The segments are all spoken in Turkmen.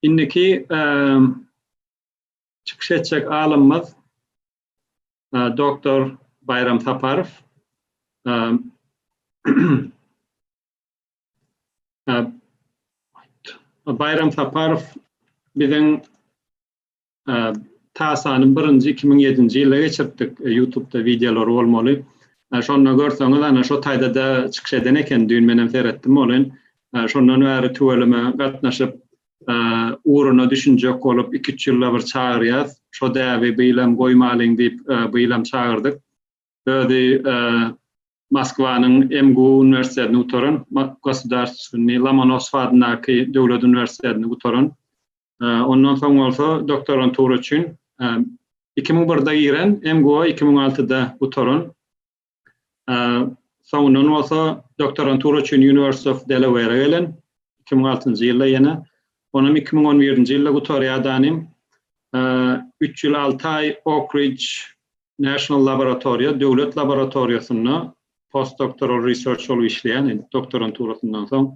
Indiki çykyş etjek alymymyz doktor Baýram Saparow. Baýram Saparow biziň Täsanyň birinji iki müň ýedinji ýylda geçiripdik, ýutubda wideolary bolmaly. Şonda görseňiz, ana, şo taýda-da çykyş eden eken, düýn menem seretdim ony. Şondan bäri tüweleme gatnaşyp, ugruna düşünjek bolup, iki-üç ýylda bir çagyrýas. Şo däbi biýlem goýmalyň diýip, biýlem çagyrdyk. Özi Moskwanyň MGU uniwersitetini gutaran, Gosudarstwennyý Lomonossow adyndaky döwlet uniwersitetini gutaran. Ondan soň bolsa doktorantura üçin iki müň birde giren, MGUA iki müň altyda gutaran. Soňundan bolsa doktorantura üçin University of Delaware gelen iki müň altynjy ýylda ýene. Onam iki müň on birinji ýylda gutarýadanym. Üç ýyl alty aý Oak Ridge National Laboratory, döwlet laboratoriýasynda postdoktoral research bolup işleýän, doktoranturasyndan soň.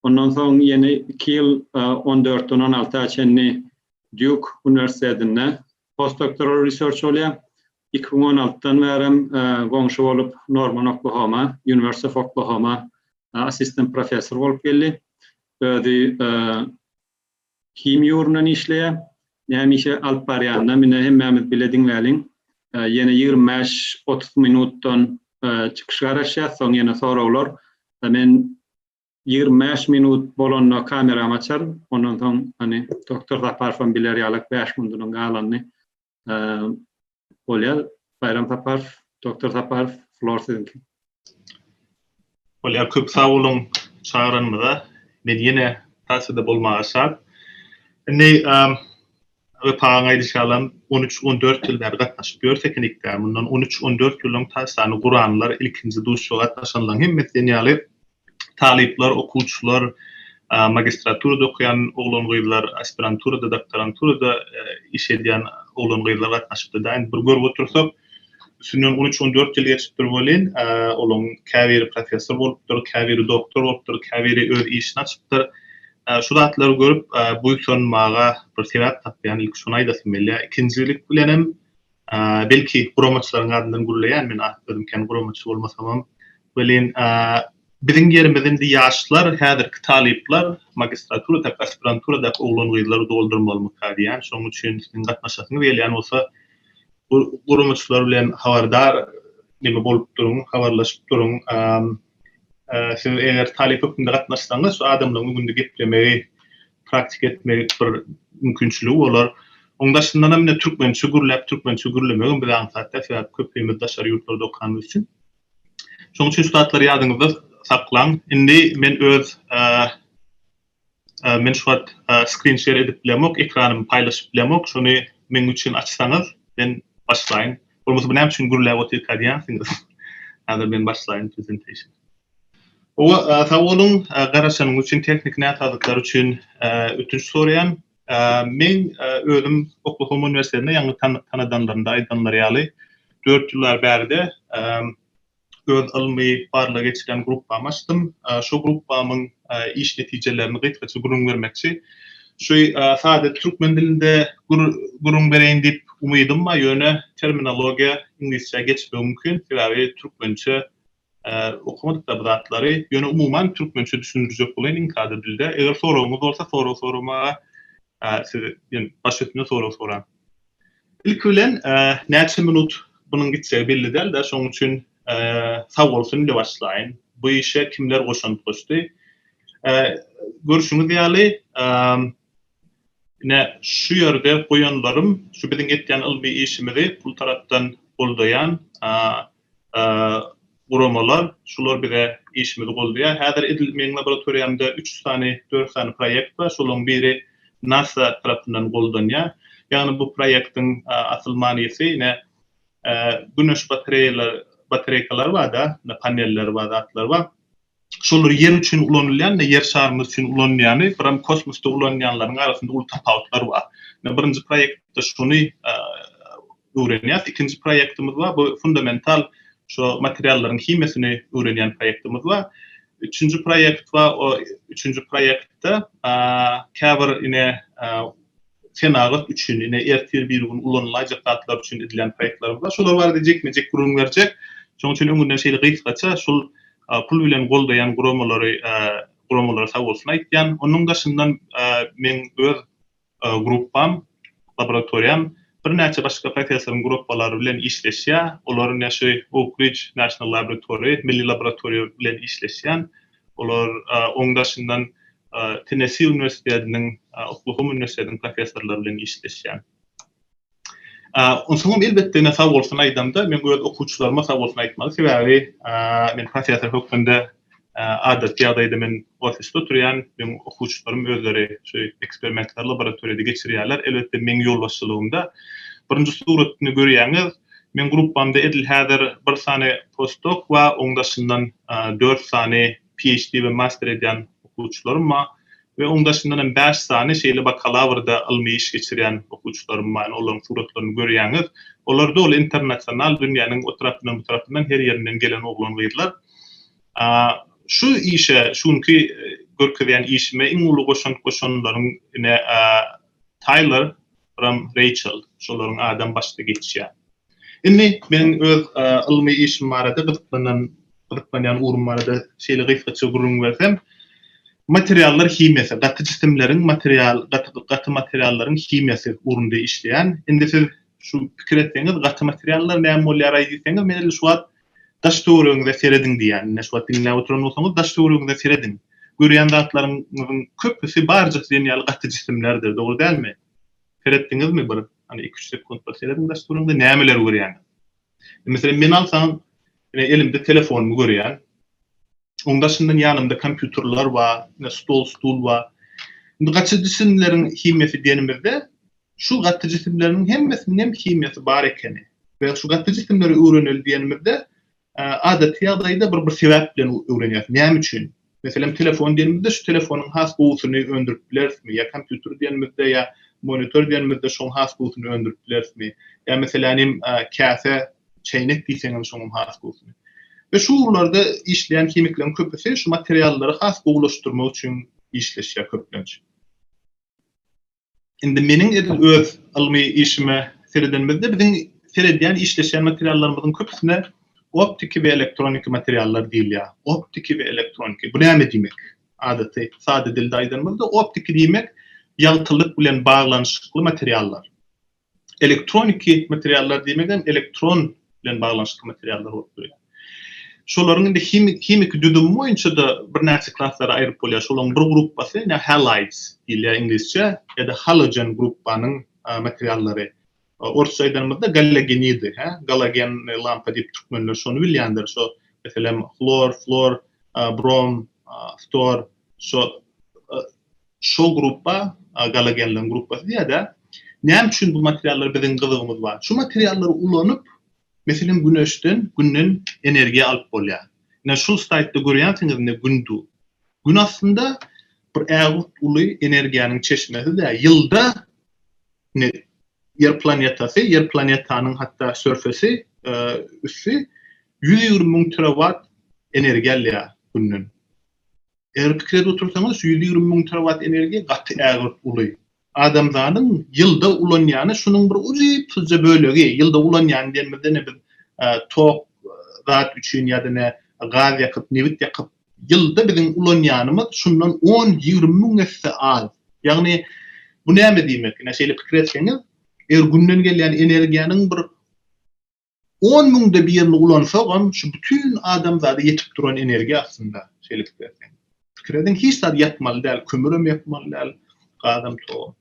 Ondan soň ýene iki ýyl, on dörtden on alty ýa çenli Dýuk uniwersitetinde postdoktoral research bolýar. Iki müň on altydan bärem goňşy bolup Norman Oklahoma, University of Oklahoma assistent professor bolup geldi. Özi himiýa ugrundan işleýär. Näme işe alyp barýanyna mine hemmämiz bile diňläliň. Ýene ýigrimi bäş, otuz minutdan çykyş garaşýar, soň ýene soraglar. Men Ýigrimi bäş minut bolanda kameramy açaryn. Ondan soň, hany, doktor Saparowam biler ýaly, bäş minudunam galanyny bolýar. Baýram Saparow, doktor Saparow, flor siziňki. Bolýar, köp sag boluň çagyranyňyza. Men ýene stasiýada bolmaga şat. Indi Wepagyň aýdyşy ýalam, on üç, on dört ýyl bäri gatnaşyp ýör Tekenikde. Mundan on üç, on dört ýyl öň taýçany guranlar, ilkinji duşuşa gatnaşanlaryň hemmesi diýen ýaly talyplar, okuwçylar, magistraturada okaýan oglan-gyzlar, aspiranturada, doktoranturada iş edýän oglan-gyzlar gatnaşypdy-da. Indi bir görüp otursak, Üstünden on üç, on dört ýyl geçipdir welin, olaryň käbiri professor bolupdyr, käbiri doktor bolupdyr, käbiri öz işini açypdyr. Şu zatlary görüp, buýsanmaga bir sebäp tapýan, ilki şony aýdasym gelýär. Ikinjilik bilenem, belki, guramaçylaryň adyndan gürleýän, men özüm kän guramaçy bolmasamam, welin, biziň ýerimizi indi ýaşlar, häzirki talyplar, magistraturadaky, aspiranturadaky oglan-gyzlar doldurmalymyka diýýän. Şonuň üçin siziň gatnaşasyňyz gelýän bolsa, Bu guramaçylar bilen habardar neme bolup duruň, habarlaşyp duruň. Siz eger talyp hökmünde gatnaşsaňyz, şu adamlaryň öňünde geplemegi, praktika etmegi bir mümkinçiligi bolar. Oň daşyndan hem indi türkmençe gürläp, türkmençe gürlemegem bize aňsat däl, sebäbi köpimiz daşary ýurtlarda okanymyz üçin. Şoň üçin şu zatlar ýadyňyzda saklaň. Indi men öz Men şu wagt screen share edip bilemok ekranymy paýlaşyp bilemok şony meň üçin açsaňyz men başlaýyn bolmasa bu näme üçin gürläp otyrka diýýänsiňiz häzir men başlaýyn presentation. Howa sag boluň garaşanyňyz üçin tehniki näsazlyklar üçin ötünç soraýan men özüm oklahoma uniwersitetinde ýaňy tanadanlarymda aýdanlary ýaly dört ýyllar bärde öz ylmy barlag geçirýän gruppamy açdym. Şu gruppamyň iş netijelerini gysgaça gürrüň bermekçi. Şu sada türkmen dilinde gürrüň bereýin diýip umydym bar, ýöne terminologiýa iňlisçä geçmegi mümkin, sebäbi türkmençe okamadykda bu zatlary, ýöne umuman türkmençe düşündirjek bolaýyn iň sada dilde. Eger soragyňyz bolsa sorag soramaga siz baş üstüne sorag soraň. Ilki bilen näçe minut bunuň gitjegi belli dälda şoň üçin sag bolsun ile başlaýyn. Bu işe kimler goşant goşdy? Görşüňiz ýaly ine şu ýerde goýanlarym şu biziň etýän ylmy işimizi pul tarapdan goldaýan guramalar, şular bize işimizi goldaýar. Häzir edil meň laboratoriýamda üç sany, dört sany proýekt bar. Şolaryň biri nasa tarapyndan goldanýar. Ýagny bu proýektiň asyl manysy ine güneş batareýalary, batareýkalar bar-da, paneller bar, zatlar bar. Şolar Ýer üçin ulanylýan, Ýer şarymyz üçin ulanylýany, biram kosmosda ulanylýanlaryň arasynda uly tapawutlar bar. Ine, birinji proýektde şony öwrenýäs. Ikinji proýektimiz bar, bu fundamental şo materiallaryň himiýasyny öwrenýän proýektimiz bar. Üçünji proýekt bar, o üçünji proýektde käbir ine senagat üçin, ine, ertir bir gün ulanylaýjak zatlar üçin edilýän proýektlerimiz bar. Şolar barada jikme-jik gürrüň berjek. Şonuň üçin öňünden şeýle gysgaça şol pul bilen goldaýan guramalary guramalara sag bolsun aýtýan. Onuň daşyndan meň öz gruppam, laboratoriýam birnäçe başga professoryň gurapalary bilen işleşýär. Olar ine şu Oak Ridge National Laboratory, Milli laboratoriýa bilen işleşýän. Olar oň daşyndan Tennessi uniwersitetiniň, Oklahoma uniwersitetiniň professorlary bilen işleşýär. Onsoňam elbetde ine sag bolsun aýdamda men öz okuwçylaryma sag bolsun aýtmaly, sebäbi men professor hökmünde adaty ýagdaýda men ofisde oturýan, meň okuwçylarym özleri şu eksperimentleri laboratoriýada geçirýärler, elbetde meň ýolbaşçylygymda. Birinji suratny görýäňiz, Meň gruppamda edil häzir bir sany postdok we oň daşyndan dört sany PHD we master edýän okuwçylarym bar we oň daşyndan hem bäş sany şeýle bakalawrda ylmy iş geçirýän okuwçylarym bar. Ýani olaryň suratlaryny görýäňiz. Olarda ol internasional dünýäniň o tarapyndan bu tarapyndan her ýerinden gelen oglan gyzlar. Şu işe şu günki görkezýän işime iň uly goşant goşanlaryň ine Taýler Ram Reýçel şolaryň adam başda geçýär. Indi men öz ylmy işim barada gyzyklanan gyzyklanýan ugrum barada şeýle gysgaça gürrüň bersem, materiallar himiýasy, gaty jisimleriň material gaty materiallaryň himiýasy ugrunda işleýän. Indi siz şu pikir etseňiz, gaty materiallar näme bolýaraý diýseňiz, men edil şu wagt Daş töweregiňize serediň diýýän. Ine şu wagt diňläp oturan bolsaňyz daş töweregiňize serediň. Görýän zatlaryňyzyň köpüsi barja siziň ýaly gaty jisimlerdir, dogry dälmi? Seretdiňizmi bir hany iki-üç sekunt bir serediň daş töweregiňize nämeleri görýäňiz? Meselem meni alsaň ine elimde telefonumy görýän. Oň daşyndan ýanymda kompýuterler bar, ine stol-stul bar. Indi gaty jisimleriň himiýasy denimizde Şu gaty jisimleriniň hemmesiniň hem himiýasy bar ekeni we şu gaty jisimleri öwreneli diýenimizde adaty ýagdaýda bir bir sebäp bilen öwrenýäris. Näme üçin? Meselem, telefon diýenimizde şu telefonyň has gowusyny öndürip bilerismi? Ýa kompýuter diýenimizde ýa monitor diýenimizde şoň has gowusyny öndürip bilerismi? Ýa meselänim käse, çäýnek diýseňem şoň has gowusyny. We şu ugurlarda işleýän himikleriň köpüsi şu materiallary has gowulaşdyrmak üçin işleşýär köplenç. Indi meniň edil öz ylmy işime seredenimizde biziň seredýän işleşýän materiallarymyzyň köpüsine optiki we elektroniki materiallar diýilýär. Optiki we elektroniki bu näme diýmek? Adaty sada dilde aýdanymyzda optiki diýmek ýagtylyk bilen baglanyşykly materiallar. Elektroniki materiallar diýmegem elektron bilen baglanyşykly materiallar bolup durýar. Şolaryň indi himiki düzümi boýunça-da birnäçe klaslara aýryp bolýar. Şolaryň bir gruppasy ine halides diýilýär iňlisçe ýa-da halogen gruppanyň materiallary. Orsça aýdanymyzda galagenidi, hä, galagenli lampa diýip türkmenler şony bilýändir. Şo, meselem, hlor, flor, brom, ftor, şo Şol gruppa, galagenleriň gruppasy diýer-dä. Näme üçin bu materiallara biziň gyzygymyz bar? Şu materiallary ulanyp, meselem, güneşden, günden energiýa alyp bolýar. Ine, şol slaýdda görýänsiňiz, indi gün dur. Gün aslynda bir ägirt uly energiýanyň çeşmesi-dä. Ýylda, indi Ýer planetasy, Ýer planetanyň hatda surface, üsti, ýüz ýigrimi müň terawat energiýa alýar günden. Eger pikire otursaňyz, şu ýüz ýigrimi müň terowat energiýa gaty ägirt uly. Adamzadyň ýylda ulanýany şunuň bir ujypsyzja bölegi. Ýylda ulanýany diýenimizde ine biz tok zat üçin ýa-da ine gaz ýakyp, nebit ýakyp ýylda biziň ulanýanymyz şundan on, ýigrimi müň esse az. Ýagny bu näme diýmek? Ine şeýle pikir etseňiz, eger günden gelýän energiýanyň bir On müňde birini ulansagam şu bütin adamzada ýetip duran energiýa aslynda şeýlip berseň. Pikir ediň hiç zat ýatmaly däl, kömürem ýakmaly däl, gazam togam.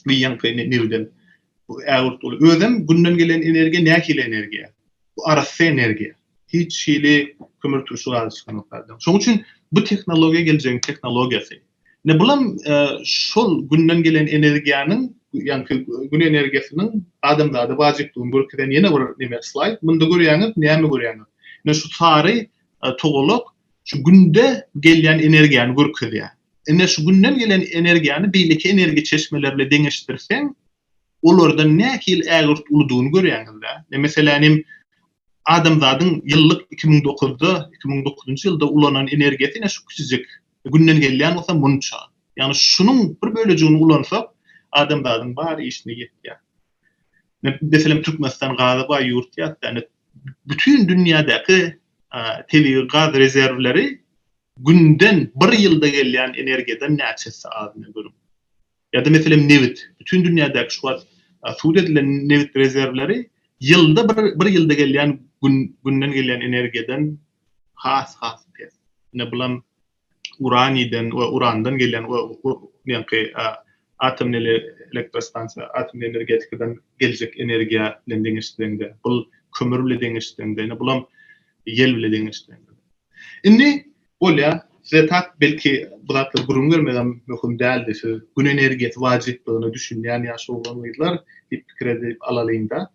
Biýanky nebidem bu ägirt uly. Özem günden gelen energiýa nähili energiýa? Bu arassa energiýa. Hiç hili kömürturşy gazy çykanok zadyň. Şoň üçin bu tehnologiýa geljegiň tehnologiýasy. Ine bulam şol günden gelen energiýanyň, ýaňky gün energiýasynyň adamzada wajypdygyny görkezen ýene bir neme slaýd. Munda görýäňiz, näme görýäňiz? Ine şu sary togalak şu günde gelýän energiýany görkezýär. Ine şu günden gelen energiýany beýleki energiýa çeşmeleri bilen deňeşdirseň, olardan nähili ägirt uludygyny görýäňiz-dä. Meselän hem Adamzadyň ýyllyk iki müň dokuzda, iki müň dokuzynjy ýylda ulanan energiýasy ine şu kiçijik Günden gelýän bolsa munça. Ýagny şunuň bir bölejigini ulansak, adamzadyň bar işine ýetýär. Meselem, Türkmenistan gaza baý ýurt ýa-da ýagny bütin dünýädäki tebigy gaz rezerwleri Günden bir ýylda gelýän energiýadan näçe esse az, ine görüň. Ýa-da meselem nebit. Bütin dünýädäki şu wagt sud edilen nebit rezerwleri ýylda bir ýylda gelýän günden gelýän energiýadan has-has pes. Ine bulam uraniden we urandan gelýän ýaňky atom elektrostansiýa atom energetikadan geljek energiýa bilen deňeşdireňde bul kömür bile deňeşdireňde ine bulam ýel bile deňeşdireňde. Indi Bolýa, size tak belki bu zatlary gürrüň bermegem möhüm däldi, siz Gün energiýasy wajyplygyna düşünýän ýaş oglan-gyzlar diýip pikir edip alalyň-da.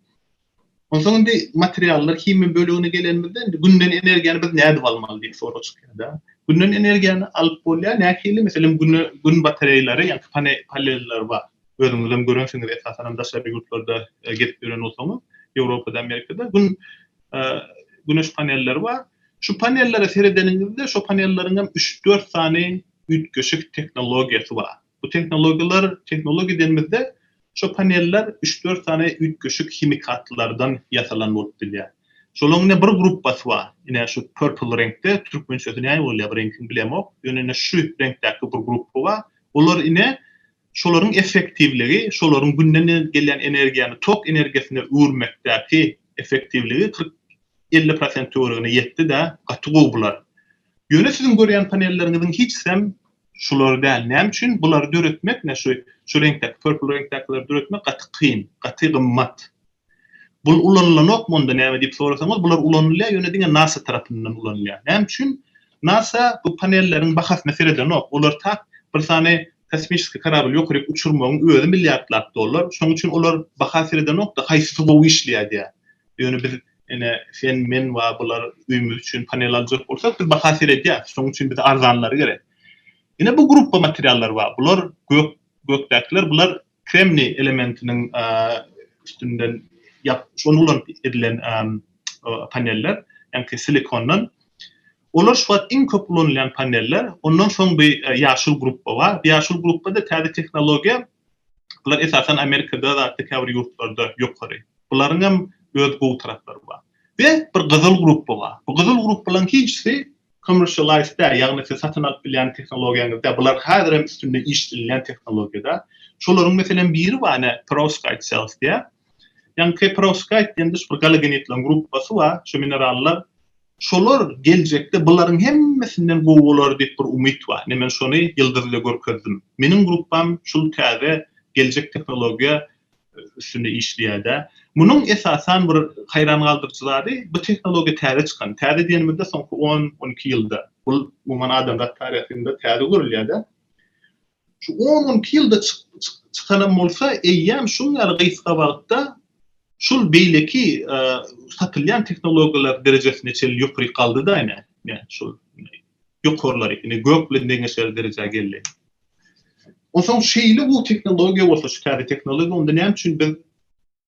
Onsoň indi materiallar himiýa bölegine gelenimizde indi Günden energiýany biz nädip almaly diýip sorag çykýar-da. Günden energiýany alyp bolýar, nähili? Meselem, Güne Gün batareýleri ýa-da paneller bar. Özüňizem görensiňiz, esasanam daşary ýurtlarda gezip ýören bolsaňyz, Ýewropada, Amerikada Gün Güneş panelleri bar. Şu panellere seredeniňizde, şo panelleriň hem üç-dört sany üýtgeşik tehnologiýasy bar. Bu tehnologiýalar, tehnologiýa diýenimizde, şo paneller üç-dört sany üýtgeşik himikatlardan ýasalan bolup bilýär. Şolaryň ine bir gruppasy bar. Ine şu purple reňkde, türkmençesi näme bolýar bu reňkiň bilemok. Ýöne ine şu reňkdäki bir gruppa bar. Olar ine Şolaryň effektiwligi, şolaryň Günden gelýän energiýany tok energiýasyna öwürmekdäki effektiwligi kyrk, elli prosent töweregine ýetdi-de, gaty gowy bular. Ýöne siziň görýän panelleriňiziň hiçsem şular däl. Näme üçin? Bulary döretmek, şu reňkdäki, purple reňkdäkileri döretmek gaty kyn, gaty gymmat. Bul ulanylanok monda näme diýip sorasaňyz bular ulanylýar ýöne diňe nasa tarapyndan ulanylýar. Näme üçin? Nasa bu panelleriň bahasyna seredenok. Olar tak bir sany kosmiçeskiý karabyl ýokaryk uçurmagyň özi milliardlap dollar. Şoň üçin olar baha seredenokda haýsysy gowy işleýär diýär. Ýöne biz ine sen men wa bular öýümiz üçin panel aljak bolsak biz baha seredýäs. Şoň üçin bize arzanlary gerek. Ine bu grupba materiallar bar. Bular gök gökdäkiler bular kremniý elementiniň üstünden ýapyp, ony ulanyp edilen paneller, ýagny silikondan. Olar şu wagt iň köp ulanylýan paneller. Ondan soň bir ýaşyl gruppa bar. Bu ýaşyl gruppa-da täze tehnologiýa. Bular esasan Amerikada we käbir ýurtlarda ýokary. Bularyň hem öz gowy taraplary bar. We bir gyzyl gruppa bar. Bu gyzyl gruppalaryň hiçsi Commercialize-de, ýagny siz satyn alyp bilýän tehnologiýaňyzda, bular häzir hem üstünde işlenilýän tehnologiýada. Şolaryň meselem biri bar, ine, perovskite cells diýýär. Ýagny perovskite diýende şu bir galogenidleriň gruppasy bar, şu minerallar. Şolar geljekde bularyň hemmesinden gowy bolar diýip bir umyt bar. Ine men şony ýyldyzda görkezdim. Meniň gruppam şul täze geljek tehnologiýa üstünde işleýärde. Munuň esasan bir haýran galdyryjy zady bu tehnologiýa täze çykan. Täze diýenimizde soňky on, on iki ýylda. Bu umuman adamzat taryhynda täze görülýärde. Şu on, on iki ýylda çykanam bolsa eýýäm şuň ýaly gysga wagtda şul beýleki satylýan tehnologiýalar derejesine çenli ýokaryk galdyda ine. Ine şul ýokarlary, indi gök bilen deňeşer derejä geldi. Onsoň şeýle bu tehnologiýa bolsa, şu täze tehnologiýa, onda näme üçin biz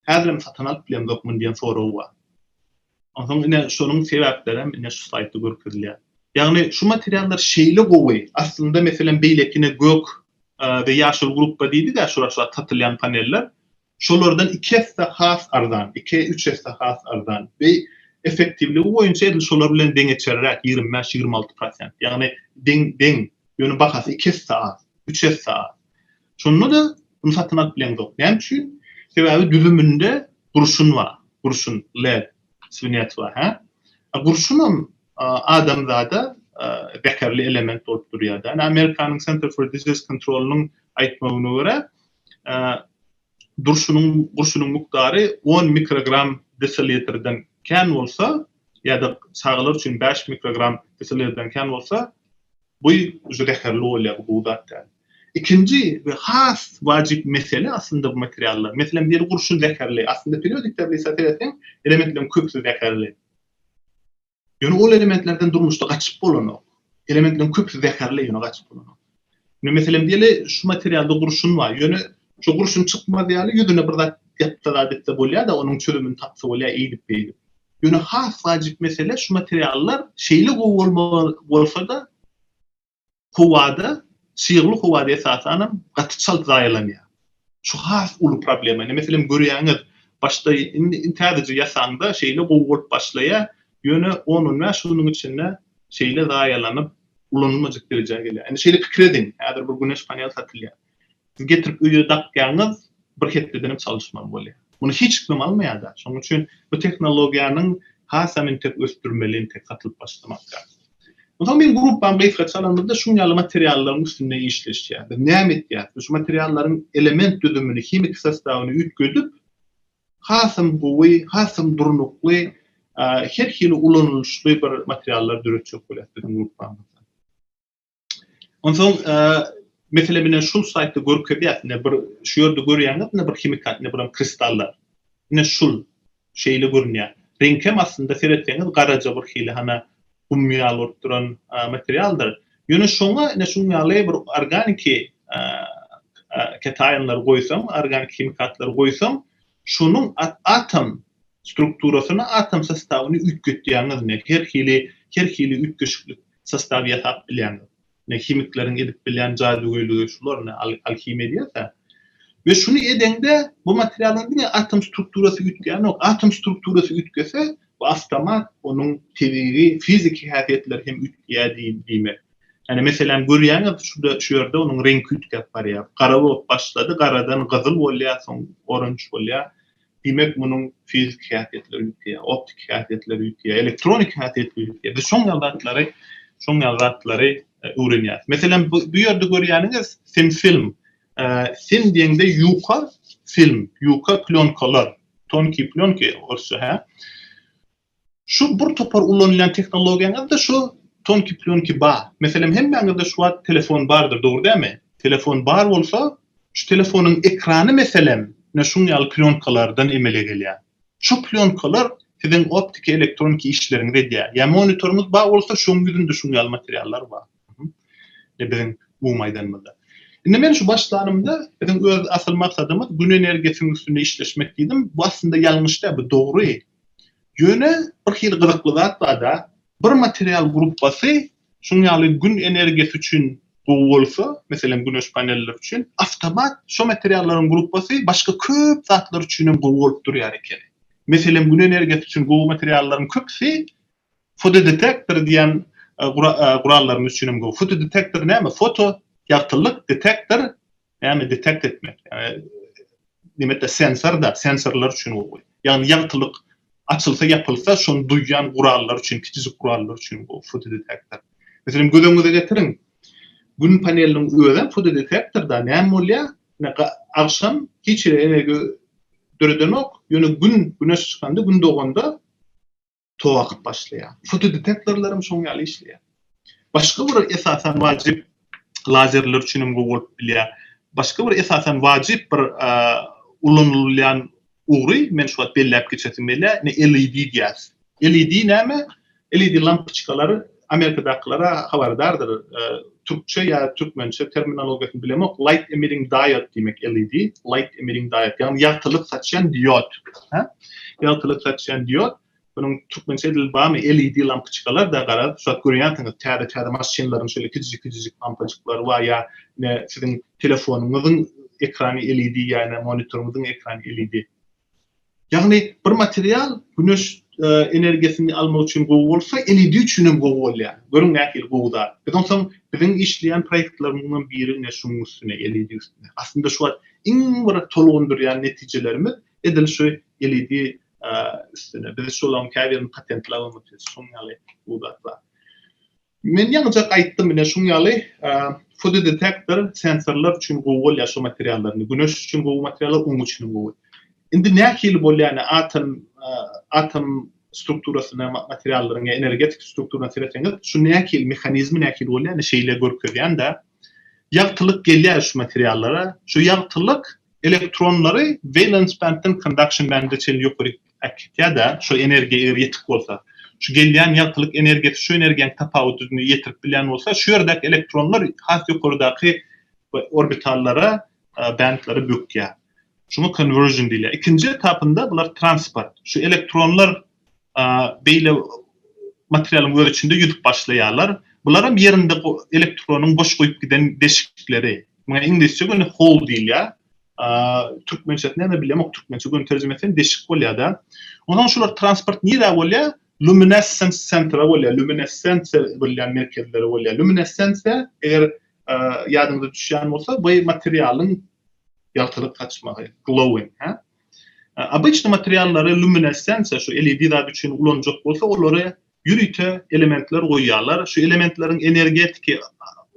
häzirem satyn alyp bilemzok muny diýen sorag bar. Onsoň ine şonuň sebäplerem ine şu slaýdda görkezilýär. Ýagny şu materiallar şeýle gowy, aslynda meselem beýleki ine gök we ýaşyl gruppa diýdik-ä şular şu at satylýan paneller, şolardan iki esse has arzan, iki, üç esse has arzan we effektiwligi boýunça edil şolar bilen deňeçerräk, ýigrimi bäş, ýigrimi alty prosent, ýagny deň, deň, ýöne bahasy iki esse az, üç esse az. Şonda-da muny satyn alyp bileňzok. Näme üçin? Sebäbi düzüminde gurşun bar, gurşun, lead, swinet bar, hä? A gurşunam adamzada zäherli element bolup durýar-da. Ine, Amerikanyň Center for Disease Control-nyň aýtmagyna görä, durşunyň gurşunyň mukdary on mikrogram desillitrden kän bolsa ýa-da çagalar üçin bäş mikrogram desillitrden kän bolsa, bu uje zäherli bolýar, bu gowy zat däl. Ikinji we has wajyp mesele aslynda bu materiallar. Meselem, biri gurşun zäherli. Aslynda periodik tablisa seretseň, elementleriň köpüsi zäherli. Ýöne ol elementlerden durmuşda gaçyp bolanok. Elementleriň köpüsi zäherli, ýöne gaçyp bolanok. Indi meselem diýeli, şu materialda gurşun bar, ýöne şu gurşun çykmaz ýaly ýüzüne bir zat ýapsa zat etse bolýar-da, onuň çözümini tapsa bolýar, eýdip-beýdip. Ýöne has wajyp mesele şu materiallar şeýle gowy bolmaly bolsa-da, howada, çygly howada esasanam gaty çalt zaýalanýar. Şu has uly problema. Ine, meselem, görýäňiz, başda indi täzeje ýasaňda şeýle gowy bolup başlaýar, ýöne on-on bäş günüň içinde şeýle zaýalanyp, ulanylmajak derejä gelýär. Indi şeýle pikir ediň, häzir bir güneş panel satylýar. Siz getirip öýe dakýaňyz, bir hepdeden hem çalyşmaly bolýar. Muny hiç kim almaýar-da. Şonuň üçin bu tehnologiýanyň hasam entek ösdürmeli, entek satylyp başlamak lazym. Onsoň meň gruppam gysgaça alamyzda şuň ýaly materiallaryň üstünde işleşýär. Biz näme etýäris? Biz şu materiallaryň element düzümini, himiki sostawyny üýtgedip, hasam gowy, hasam durnukly, her hili ulanylyşly bir materiallar döretjek bolýarys biziň gruppamyzda. Onsoň mesele mine şul saýtda görkezýär, ine bir şu ýerde görýäňiz, ine bir himikat, ine buram kristallar. Ine şul şeýle görünýär. Reňkem aslynda seretseňiz garaja bir hili hana gum ýaly bolup duran materialdyr. Ýöne şoňa ine şuň ýaly bir organiki ketaýynlary goýsaň, organiki himikatlary goýsaň, şonuň atom strukturasyny, atom sostawyny üýtgetýäňiz, ine her hili her hili üýtgeşiklik sostawy ýasap bilýäňiz. Ine himikleriň edip bilýän jadygöýlügi şular, ine alhimiýa edýärkä. We şuny edeňde bu materialyň diňe atom strukturasy üýtgänok, atom strukturasy üýtgese bu awtomat onuň tebigy fiziki häsiýetleri hem üýtgeýär diýmek. Ýani meselem görýäňiz şurda şu ýerde onuň reňki üýtgäp barýar. Gara bolup başlady, garadan gyzyl bolýar, soň orange bolýar. Diýmek, munuň fiziki häsiýetleri ýitýär, optiki häsiýetleri ýitýär, elektroniki häsiýetleri ýitýär. Biz şoň ýaly zatlary, şoň ýaly zatlary öwrenýäris. Meselem, bu ýerde görýäniňiz sinfilm. Sin diýende ýuka film, ýuka plýonkalar, tonkiý plýonki orsça, hä? Şu bir topar ulanylýan tehnologiýaňyzda şu tonki plýonki bar. Meselem hemmäňizde şu wagt telefon bardyr dogry dämi? Telefon bar bolsa şu telefonyň ekrany meselem ine şuň ýaly plýonkalardan emele gelýär. Şu plýonkalar siziň optiki elektroniki işleriňizi edýär. Ýa monitoryňyz bar bolsa şoň ýüzünde şuň ýaly materiallar bar. Ine biziň umumy aýdanymyzda. Indi men şu başlanymda biziň öz asyl maksadymyz gün energiýasynyň üstünde işleşmek diýdim. Bu aslynda ýalňyş däl bu dogry. Ýöne birhili gyzykly zat barda, bir material gruppasy şunuň ýaly Gün energiýasy üçin gowy bolsa, meselem güneş panelleri üçin, awtomat şo materiallaryň gruppasy başga köp zatlar üçin hem gowy bolup durýar ekeni. Meselem Gün energiýasy üçin gowy materiallaryň köpüsi fotodetektor diýen gurallarymyz üçin hem gowy. Fotodetektor näme? Foto, ýagtylyk, detektor, Näme detekt etmek? Nimetde sensorda, sensorlar üçin gowy. Ýagny ýagtylyk açylsa, ýapylsa, şony duýýan gurallar üçin, kiçijik gurallar üçin gowy fotodetektor. Meselem, göz öňüňize getiriň. Gün paneliniň özi fotodetektorda näme bolýar? Agşam hiç hili energiýa döredenok, ýöne gün, güneş çykanda, gün doganda tow akyp başlaýar. Fotodetektorlaram şoň ýaly işleýär. Başga bir esasan wajyp lazerler üçin hem gowy bolup bilýär. Başga bir esasan wajyp bir ulanylýan ugry men şu wagt belläp geçesim gelýär. LED diýýäs. LED näme? LED lampoçkalary Amerikadakylara habardardyr. Türkçe ýa türkmençe terminologiýasyny bilemok, light emitting diode diýmek LED, light emitting diode, ýagny ýagtylyk saçýan diod. Hä? Ýagtylyk saçýan diod. Munuň türkmençe edil barmy? LED lampyçkalar da gara, şuwagt görýänsiňiz, täze täze maşynlaryň şeýle kijijik kijijik lampyjyklary bar ýa ne siziň telefonyňyzyň ekrany LED ýa ne monitoryňyzyň ekrany LED. Ýagny bir material güneş energiýasyny almak üçin gowy bolsa, LED üçin hem gowy bolýar. Görüň nähili gowy zat. Biz onsoň biziň işleýän proýektlerimiziň biri ine şunuň üstüne, LED üstüne. Aslynda şu wagt iň bir tolgundyrýan netijelerimiz edil şu LED üstüne. Biz şolaryň käbirini patentläp hem otyrys. Şonuň ýaly gowy zat bar. Men ýaňyjak aýtdym ine şuň ýaly fotodetektor sensorlar üçin gowy bolýar şu materiallar indi güneş üçin gowy materiallar oň üçinem gowy. Indi nähili bolýar ine atom atom strukturasyna materiallaryň ýa energetik strukturasyna seretseňiz şu nähili mehanizmi nähili bolýar ine şeýle görkezýän-de ýagtylyk gelýär şu materiallara şu ýagtylyk elektronlary valence band-den conduction band-e çenli ýokaryk Äkitse-de, şu energiýa eger ýetik bolsa, şu gelýän ýagtylyk energiýasy şu energiýanyň tapawudyny ýetirip bilýän bolsa, şu ýerdäki elektronlar has ýokardaky orbitallara, bändlere bökýär. Şuňa konwersion diýilýär. Ikinji etapynda bular transport. Şu elektronlar beýle materialyň öz içinde ýüzüp başlaýarlar. Bular hem ýerinde elektronyň boş goýup giden deşikleri. Muňa iňlisçe göni hole diýilýär. Türkmençesini hem bilemok türkmençe göni terjime etseň deşik bolýada. Onsoň şular transport nirä bolýa? Luminescence centre bolýa, luminescensiýa bilýän merkezleri bolýa. Luminescensiýa eger ýadyňyza düşýän bolsa bu materialyň ýagtylyk saçmagy, glowing, hä? Obýçny materiallary luminescensiýa şu LED zat üçin ulanjak bolsa olary ýörite elementler goýýarlar. Şu elementleriň energetiki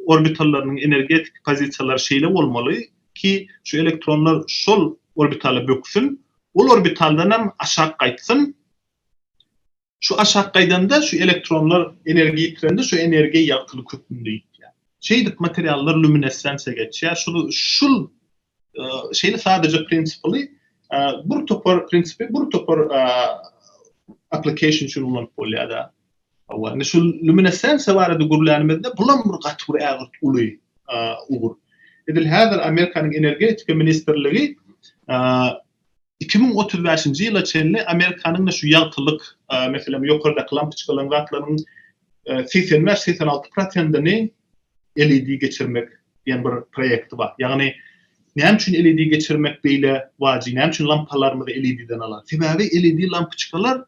orbitallarynyň energetiki pozisiýalary şeýle bolmaly ki, şu elektronlar şol orbitala böksün, ol orbitaldan hem aşak gaýtsyn. Şu aşak gaýdanda şu elektronlar energiýa ýitirende şu energiýa ýagtylyk hökmünde ýitýär. Şeýdip materiallar luminessensiýa geçýär. Şul Şeýle sadaja prinsiply bir topar prinsipi bir topar application üçin ulanyp bolýar-da. Hawa, indi şu luminescensiýa barada gürlänimizde bulam bir gaty bir ägirt uly ugur. Edil häzir Amerikanyň energetika ministrligi 2035-nji ýyla çenli Amerikanyň şu ýagtylyk, meselem, ýokardaky lampoçkalaryň zatlaryň 85-86 prosentini LED geçirmek diýen bir proýekti bar. Ýagny näme üçin LED geçirmek beýle wajyp? Näme üçin lampalarymyzy LED-den alar? Sebäbi LED lampyçkalar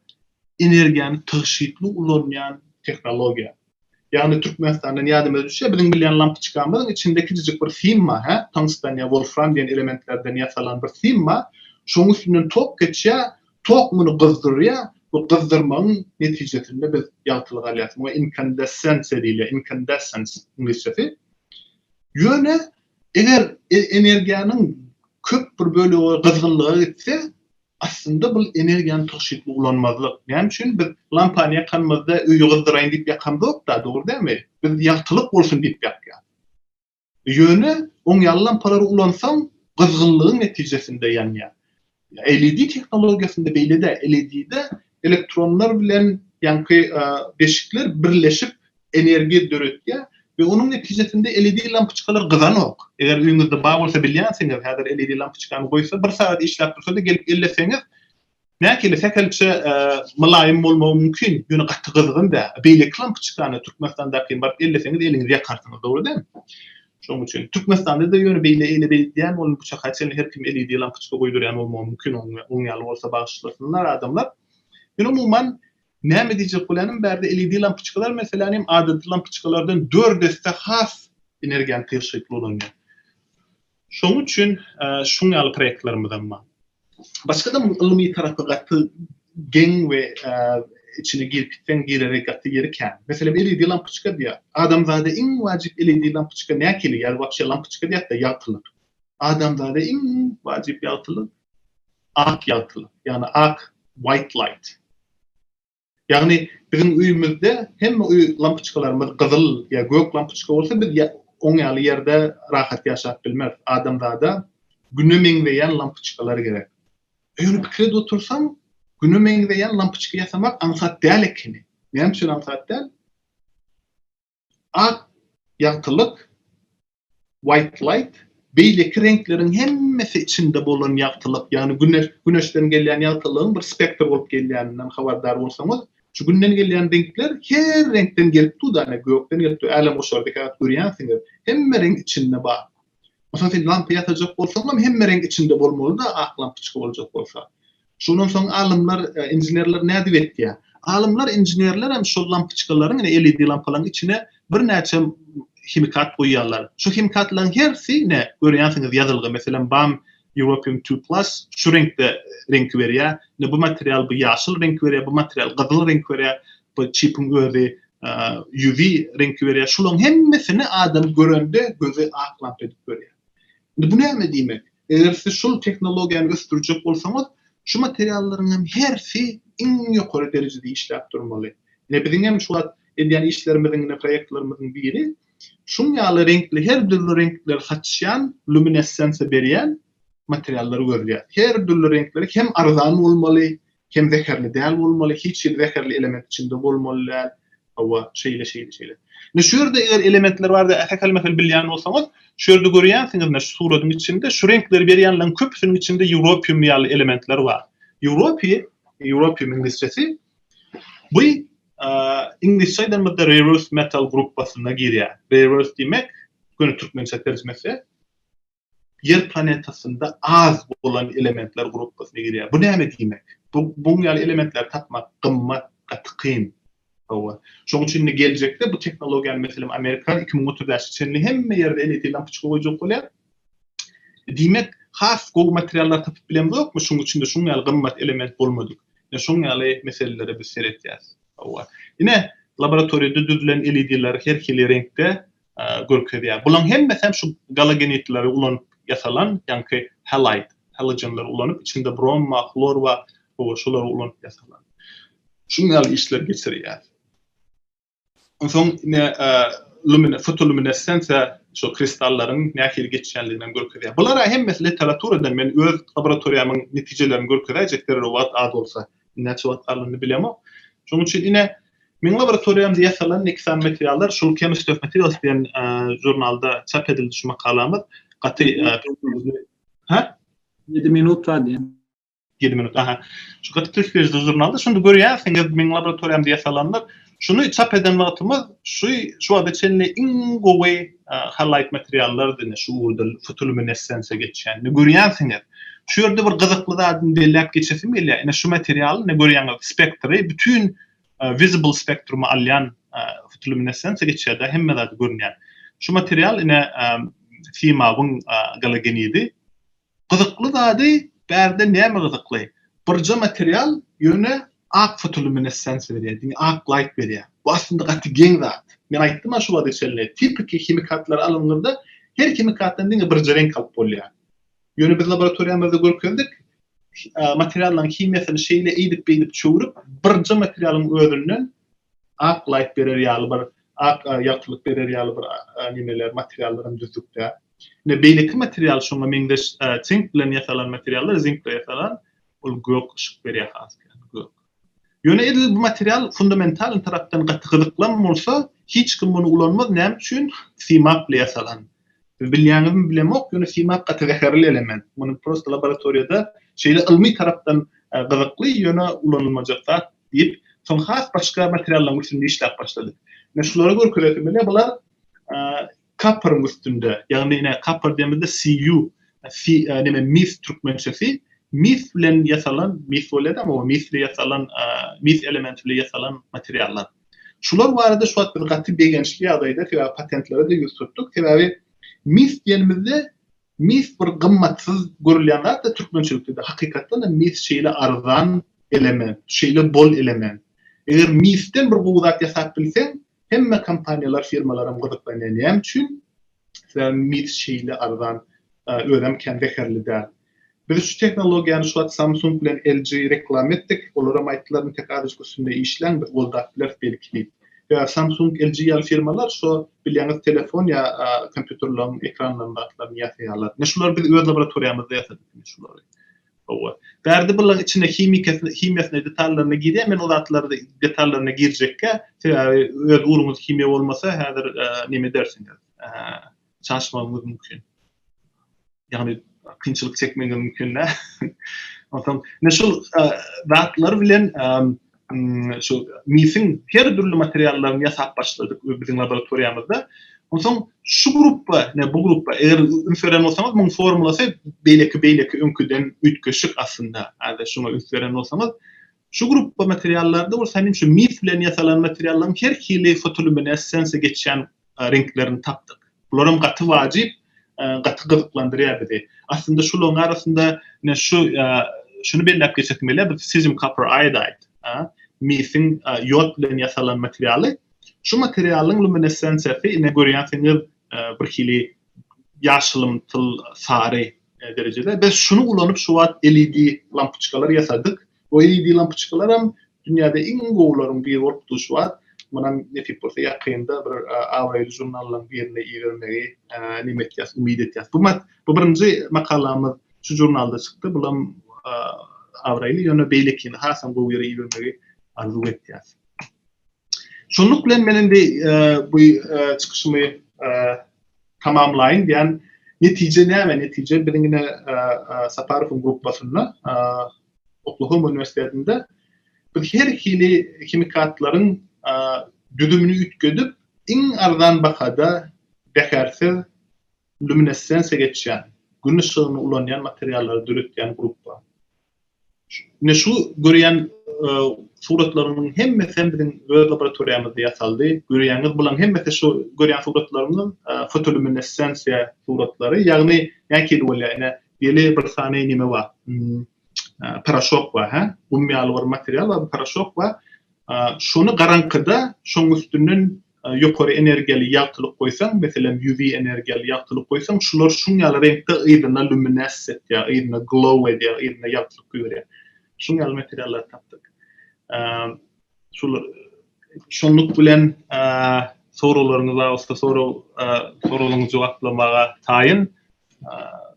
energiýany tygşytly ulanýan tehnologiýa. Ýagny Türkmenistandan ýadyma düşýär, biziň bilýän lampyçkamyzyň içinde kiçijik bir sim bar, hä? Tungstan ýa wolfram diýen elementlerden ýasalan bir sim bar. Şoň üstünden tok geçýär, Tok muny gyzdyrýar, bu gyzdyrmagyň netijesinde biz ýagtylyk alýas. Muňa inkandesensiýa diýilýär, incandescence iňlisçesi. Ýöne eger energiýanyň köp bir bölegi gyzgynlyga gitse, aslynda bul energiýany tygşytly ulanmazlyk. Näme üçin? Biz lampany ýakanymyzda öýi gyzdyraýyn diýip ýakamzok-da, dogry dälmi? Biz ýagtylyk bolsun diýip ýakýas. Ýöne oňýaly lampalary ulansaň, gyzgynlygyň netijesinde ýanýar. LED tehnologiýasynda beýle däl. LED-de elektronlar bilen ýaňky deşikler birleşip energiýa döretýär we onuň netijesinde LED lampyçkalar gyzanok. Eger öýüňizde bar bolsa bilýänsiňiz, häzir LED lampyçkany goýsa, bir sagat işläp dursa-da gelip elleseňiz, Mäkeli sähelçe mylaýym bolmagy mümkin, ýöne gaty gyzgyn däl. Beýleki klampuçkany Türkmenistandaky baryp elleseňiz eliňizi ýakarsyňyz, dogry dälmi? Şonuň üçin Türkmenistanda-da ýöne beýle ele beýdýän bolun bu çaka çenli her kim LED lampuçka goýberýän bolmagy mümkin, oň ýaly bolsa bagyşlasynlar adamlar. Men umuman näme diýjek bolýanym bärde LED lampuçkalar meselän hem adaty lampuçkalardan dört esse has energiýany tygşytly ulanýar. Şonuň üçin şuň ýaly proýektlerimiz hem bar. Başga-da ylmy tarapy gaty geň we içine girip gitseň girere gaty ýeri kän. Meselem LED lampoçka diýýär. Adamzada iň wajyp LED lampoçka näkili ýa-da wapşe lampoçka diýýäs-de ýagtylyk. Adamzada iň wajyp ýagtylyk ak ýagtylyk, ýagny ak, white light. Ýagny biziň öýümizde hemme öý lampyçkalarymyz gyzyl ýa gök lampyçka bolsa biz oň ýaly ýerde rahat ýaşap bilmeris. Adamzada Güne meňzeýän lampyçkalar gerek. Öýüňi pikir edip otursaň Güne meňzeýän lampyçka ýasamak aňsat däl ekeni. Näme üçin aňsat däl? Ak ýagtylyk, white light, beýleki reňkleriň hemmesi içinde bolan ýagtylyk, ýagny güneş, güneşden gelýän ýagtylygyň bir spektr bolup gelýändinden habardar bolsaňyz, şu günden gelýän reňkler her reňkden gelip dur-da, ine, gökden gelip dur, älemgoşary dikäläp görýänsiňiz, hemme reňk içinde bar. Masalan, sen lampa ýasajak bolsaňam hemme reňk içinde bolmaly-da, ak lampoçka boljak bolsa. Şondan soň alymlar, inženerler nädip etýär? Alymlar, inženerler hem şol lampoçkalaryň, ine, LED lampalaryň içine birnäçe himikat guýýarlar. Şu himikatlaryň hersi, ine, görýänsiňiz, ýazylgy, meselem, bam Europium two plus şu reňkde reňki berýä. Ine bu material bu ýaşyl reňki berýä, bu material gyzyl reňki berýä. Bu çipiň özi UV reňki berýär. Şularyň hemmesini adam görende gözi ak lampa edip görýär. Indi bu näme diýmek? Eger siz şul tehnologiýany ösdürjek bolsaňyz, şu materiallaryň hem hersi iň ýokary derejede işläp durmaly. Ine biziň hem şu wagt edýän işlerimiziň ine proýektlerimiziň biri şuň ýaly reňkli her dürli reňkleri saçýan, luminessensiýa berýän, materiallary gözleýär. Her dürli reňkleri hem arzan bolmaly, hem zäherli däl bolmaly, hiç hili zäherli element içinde bolmaly däl, hawa, şeýle, şeýle, şeýle. Indi şu ýerde eger elementler barada ähekel mähel bilýän bolsaňyz, şu ýerde görýänsiňiz, şu suratyň içinde şu reňkleri berýänleriň köpüsiniň içinde ýuropium ýaly elementler bar. Ýuropiý, ýuropium iňlisçesi, Bu iňlisçe aýdanymyzda rare earth metal gruppasyna girýär. Rare earth diýmek, göni türkmençe terjimesi Ýer planetasynda az bolan elementler gruppasyna girýär. Bu näme diýmek? Bu bu ýaly elementleri tapmak gymmat, gaty kyn. Hawa. Şonuň üçin indi geljekde bu tehnologiýany meselem Amerika iki müň otuz bäşe çenli hemme ýerde LET lampyçka goýjak bolýar. Diýmek, has gowy materiallar tapyp bilemzokmy, şuň üçin-de şuň ýaly gymmat element bolmadyk. Ine, şoň ýaly meselelere biz seretýäs. Hawa. Ine, laboratoriýada düzülen LEDler her hili reňkde görkezýär. Bulaň hemmesem şu galogenidleri ulanyp ýasalan, ýaňky halide, halogenleri ulanyp, içinde brom bar, hlor bar, hawa, şolary ulanyp ýasalan. Şuň ýaly işler geçirýär. Onsoň ine lumine fotoluminessensiýa şol kristallaryň nähili geçýändigini hem görkezýär. Bular-a hemmesi literaturada men öz laboratoriýamyň netijelerini görkezäýjek zerur wagt az bolsa. Näçe wagt galandyny bilemok. Şonuň üçin ine meň laboratoriýamda ýasalan nekisan materiallar şol Chemistry of Materials diýen žurnalda çap edildi şu makalamyz. Gaty Ýedi minut bar diýen. Ýedi minut, aha. Şu Gyt Kysbejde žurnalda şuny görýärsiňiz, meň laboratoriýam diýe salandyr. Şuny çap eden wagtymyz şu şu wagta çenli iň gowy halloid materiallardy, ine şu ugurda fotoluminessensiýa geçýän. Ine görýänsiňiz. Şu ýerde bir gyzykly zadyny belläp geçesim gelýär. Ine şu material, ine görýäňiz, spektri bütin visible spektrumy alýan fotoluminessensiýa geçýär-de, hemme zady görünýär. Şu material, ine, simawyň galogenidi. Gyzykly zady bärde näme gyzykly birje material ýöne ak fotolýuminessensiýa berýär diňe ak laýt berýär bu aslynda gaty geň zat men aýtdym-a şu wagta çenli tipiki himikatlary alanyňyzda her himikatdan diňe birje reňk alyp bolýar ýöne biz laboratoriýamyzda görkezdik materiallaryň himiýasyny şeýle eýdip beýdip çöwrüp birje materialyň özünden ak laýt berer ýaly bir ak ýagtylyk berer ýaly bir nimeler materiallaram düzdükdä. Ine, beýleki material şoňa meňzeş sink bilen ýasalan materiallar, zink bilen ýasalan, ol gök yşyk berýär has köp, gök. Ýöne edil bu material fundamentalny tarapdan gaty gyzyklam bolsa, hiç kim muny ulanmaz, näme üçin? Simak bilen ýasalan. Siz bilýäňizmi bilemok, ýöne simak gaty zäherli element. Muny prosta laboratoriýada şeýle ylmy tarapdan gyzykly, ýöne ulanylmajak zat diýip, soň has başga materiallaryň üstünde işläp başladyk. Ine, şulary görkezesim gelýär, bular Kapyryň üstünde, ýagny ine kapyr diýemizde CU si neme mis türkmençesi mis bilen ýasalan mis bolýada ama o misli ýasalan mis elementi bilen ýasalan materiallar. Şular barada şu wagt biz gaty begençli ýagdaýda sebäbi patentlere-de ýüz tutduk. Sebäbi mis diýenimizde mis bir gymmatsyz görülýän zat-da türkmençilikde-de. Hakykatdan-da mis şeýle arzan element, şeýle bol element. Eger misden bir gowy zat ýasap bilseň, Hemme kompaniýalar, firmalaram gyzyklanýar. Näme üçin? Sebäbi mis şeýle arzan, özem kän zäherli däl. Biz şu tehnologiýany şu wagt Samsung bilen LG reklama etdik. Olaram aýtdylar, Intek azajyk üstünde işläň, biz goldap bileris belki diýip. Sebäbi Samsung, LG ýaly firmalar şo bilýäňiz telefon ýa kompýuterleriň ekranlaryny zatlaryny ýasaýarlar. Ine şulary biz öz laboratoriýamyzda ýasadyk indi şulary. Hawa. Bärde bulaň içine himikasy himiýasyna detallaryna girýän men o zatlary detallaryna girjekkä sebäbi öz uruňyz himiýa bolmasa häzir neme edersiňiz çaşmagyňyz mümkin. Ýagny kynçylyk çekmegiňiz mümkin dä. Onsoň men şol zatlar bilen şu misiň her dürli materiallaryny ýasap başladyk biziň laboratoriýamyzda. Onsoň şu gruppa, ne bu gruppa, eger üns beren bolsaňyz, muň formulasy beýleki beýleki öňküden üýtgeşik aslynda. Häzir şuňa üns beren bolsaňyz, şu gruppa materiallarda bolsa heniň şu mis bilen ýasalan materiallaryň her hili fotolýuminessensiýa geçýän reňklerini tapdyk. Bularam gaty wajyp, gaty gyzyklandyrýar bizi. Aslynda şularyň arasynda ine şu şuny belläp geçesim gelýär, bu cesium copper iodide, misiň ýod bilen ýasalan materialy. Şu materialyň luminessensiýasy ine görýänsiňiz bir hili ýaşylymtyl sary derejede. Biz şuny ulanyp şu wagt LED lampoçkalar ýasadyk. Goýy ýedi lampoçkalaram dünýäde iň gowularyň biri bolup duşuar. Munam nesip bolsa ýakynda bir abraýly žurnallaryň birine ibermegi neme etýäs, umyt etýäs. Bu mat, bu birinji makalamyz şu žurnalda çykdy. Bulam abraýly, ýöne beýlekini hasam gowy ýere ibermegi arzuw etýäs. Şunluk bilen men indi bu çykyşymy tamamlaýyn diýen netije näme netije biziň ine saparowyň grupasynda oklahoma uniwersitetinde biz her hili himikatlaryň düzümini üýtgedip iň arzan bahada zähersiz luminessensiýa geçýän gün yşygyny ulanýan materiallary döretýän grupa Ine şu görýän suratlarymyň hemmesi hem biziň öz laboratoriýamyzda ýasaldy. Görýäňiz bularyň hemmesi şu görýän suratlarymyz fotolýuminessensiýa suratlary. Ýagny nähili bolýar ine ýeli bir sany neme bar. Poroşok bar hä. Gum ýaly bir material bar, poroşok bar. Şony garaňkyda şoň üstünden ýokary energiýaly ýagtylyk goýsaň, meselem, UV energiýaly ýagtylyk goýsaň, şular şuň ýaly reňkde yzyna luminess etýär, yzyna glow edýär, yzyna ýagtylyk guýberýär. Şuň ýaly materiallary tapdyk. Şular şunluk bilen soraglaryňyz bar bolsa sorag soraglaryňyzy jogaplamaga taýyn.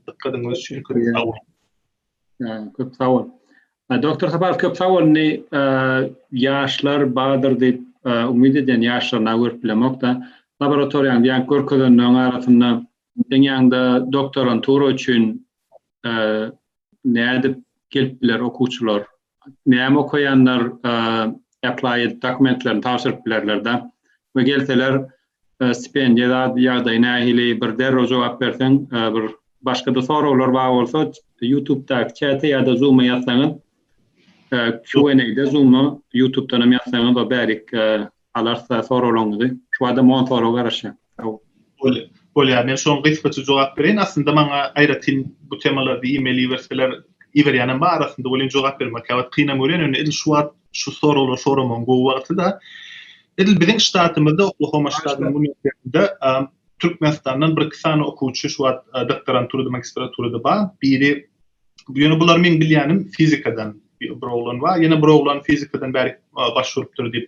Dykgatyňyz üçin köp sag boluň. Köp sag bol. Doktor Sapar köp sag bol. Indi ýaşlar bardyr diýip umyt edýän ýaşlaryna görüp bilemok-da. Laboratoriýaň diýen görkezenleriň arasynda seň ýanyňda doktorantura üçin nädip gelip biler okuwçylar? Näme okaýanlar apply edip dokumentlerini tabşyryp bilerlerde we gelseler stipendiýa zat ýagdaýy nähili bir derrew jogap berseň bir başgada soraglar bar bolsa youtubdaky çäte ýa-da zuma ýazsaňyz Q&A-de zuma youtubdan hem ýazsaňyz o bärik alarsa soraglaryňyzy şu adam on soraga garaşýan sag boluň. Bolýar men şoň gysgaça jogap bereýin aslynda maňa aýratyn bu temalarda email iberseler iberýänem bar arasynda welin jogap bermek käwagt kynam görýän ýöne edil şu wagt şu soraglar soramagyň gowy wagty da edil biziň ştatymyzda oklahoma ştatynyň uniwersitetinde türkmenistandan bir iki sany okuwçy şu wagt doktoranturada magistraturada bar biri Ýöne bular meň bilýänim fizikadan bir oglan bar. Ýene bir oglan fizikadan bäri baş urupdyr diýip.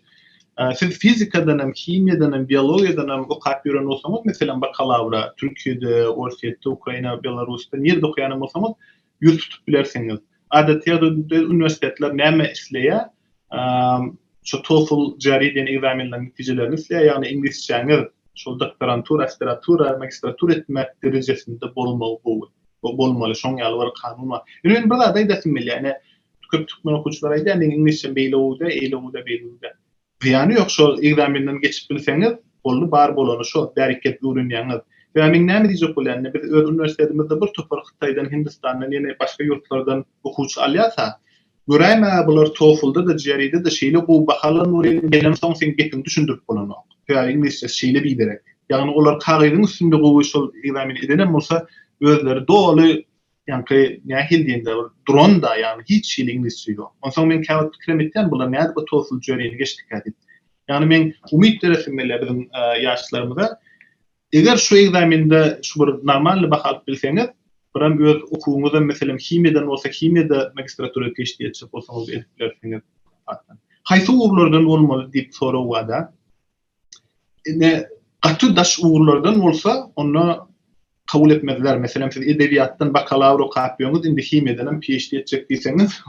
Siz fizikadan hem, himiýadan hem, biologiýadan hem okap ýören bolsaňyz, meselem, bakalawra Türkiýede, Orsýetde, Ukraina, Belarusda nirede okaýan hem bolsaňyz, ýüz tutup bilersiňiz. Adaty ýagdaýda uniwersitetler näme isleýär? Şu TOEFL, GRE diýen ekzamenleriň netijelerini isleýär, ýagny iňlisçäňiz şol doktorantura, aspiratura, magistratura etmek derejesinde bolmagy gowy. Bu bolmaly, şoň ýaly bir kanun bar. Ýöne men bir zat aýdasym gelýär, ine, köp türkmen okuwçylary aýdýar, meň iňlisçem beýle gowy däl, eýle gowy däl, beýle gowy däl. Zyýany ýok, şol ekzamenden geçip bilseňiz, boldy, bar bolany şo, bärik gelip öwrenýäňiz. Sebäbi men näme diýjek bolýan, ine, biz öz uniwersitetimizde bir topar Hytaýdan, Hindistandan, ýene başga ýurtlardan okuwçy alýas-a. Göräýmäge bular TOEFL-da-da, GRE-de-de şeýle gowy baha alan bolýalar, gelemsoň seň gepiňi düşündirip bolanok. Sebäbi iňlisçesi şeýle biderek. Ýagny olar kagyzyň üstünde gowy şol ekzameni edenem bolsa, özleri doly, ýaňky nähili diýende bir duran-da, ýagny hiç hili iňlisçe ýok. Onsoň men käwagt pikirem etýän, bular nädip o TOEFL, GRE-ni geçdikä diýip. Ýagny meň umyt beresim gelýär biziň ýaşlarymyza. Eger şu ekzamende şu bir normalny baha alyp bilseňiz, birem öz okuwyňyzam meselem himiýadan bolsa himiýada magistratura PHD etjek bolsaňyz edip bilersiňiz. Haýsy ugurlardan bolmaly diýip sorag bada. Ine gaty daş ugurlardan bolsa onda kabul etmezler. Meselem siz edebiýatdan bakalawr okapýoňyz indi himiýadanam PHD etjek diýseňiz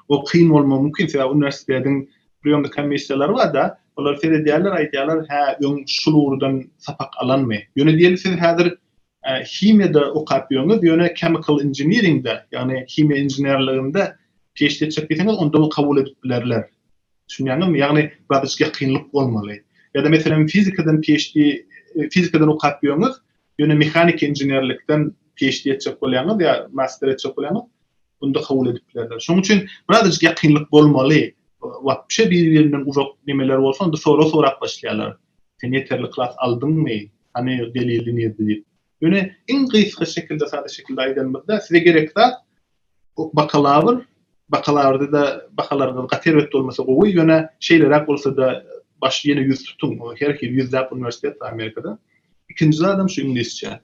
o kyn bolmagy mümkin sebäbi uniwersitetiň Priýomnyk komissiýalary bar-da, olar seredýärler, aýdýarlar, hä, öň şul ugurdan sapak alanmy? Ýöne diýeli siz häzir himiýada okap ýörüňiz, ýöne chemical engineering-de, ýagny himiýa inženerliginde PHD çekip ýeseňiz, onda kabul edip bilerler. Düşünýäňizmi? Ýagny birazajyk ýakynlyk bolmaly. Ýa-da meselem fizikadan PHD, fizikadan okap ýörüňiz, Ýöne mehanik inženerlikden PHD etjek bolýaňyz ýa master etjek bolýaňyz, onda kabul edip bilerler. Şonuň üçin birazajyk ýakynlyk bolmaly. Wapşe bir-birinden uzak nemeler bolsa, onda sorag sorap başlaýarlar. Sen ýeterlik klas aldyňmy? Hany delili nirde diýip. Ýöne iň gysga şekilde, sada şekilde aýdanymyzda, size gerek zat Ok bakalawr, bakalawrda-da bahalaryňyz gaty erbet bolmasa gowy, ýöne şeýleräk bolsa-da başy ýene ýüz tutuň, ol her hili ýüzläp uniwersitet bar Amerikada. Ikinji zadam şu iňlisçe.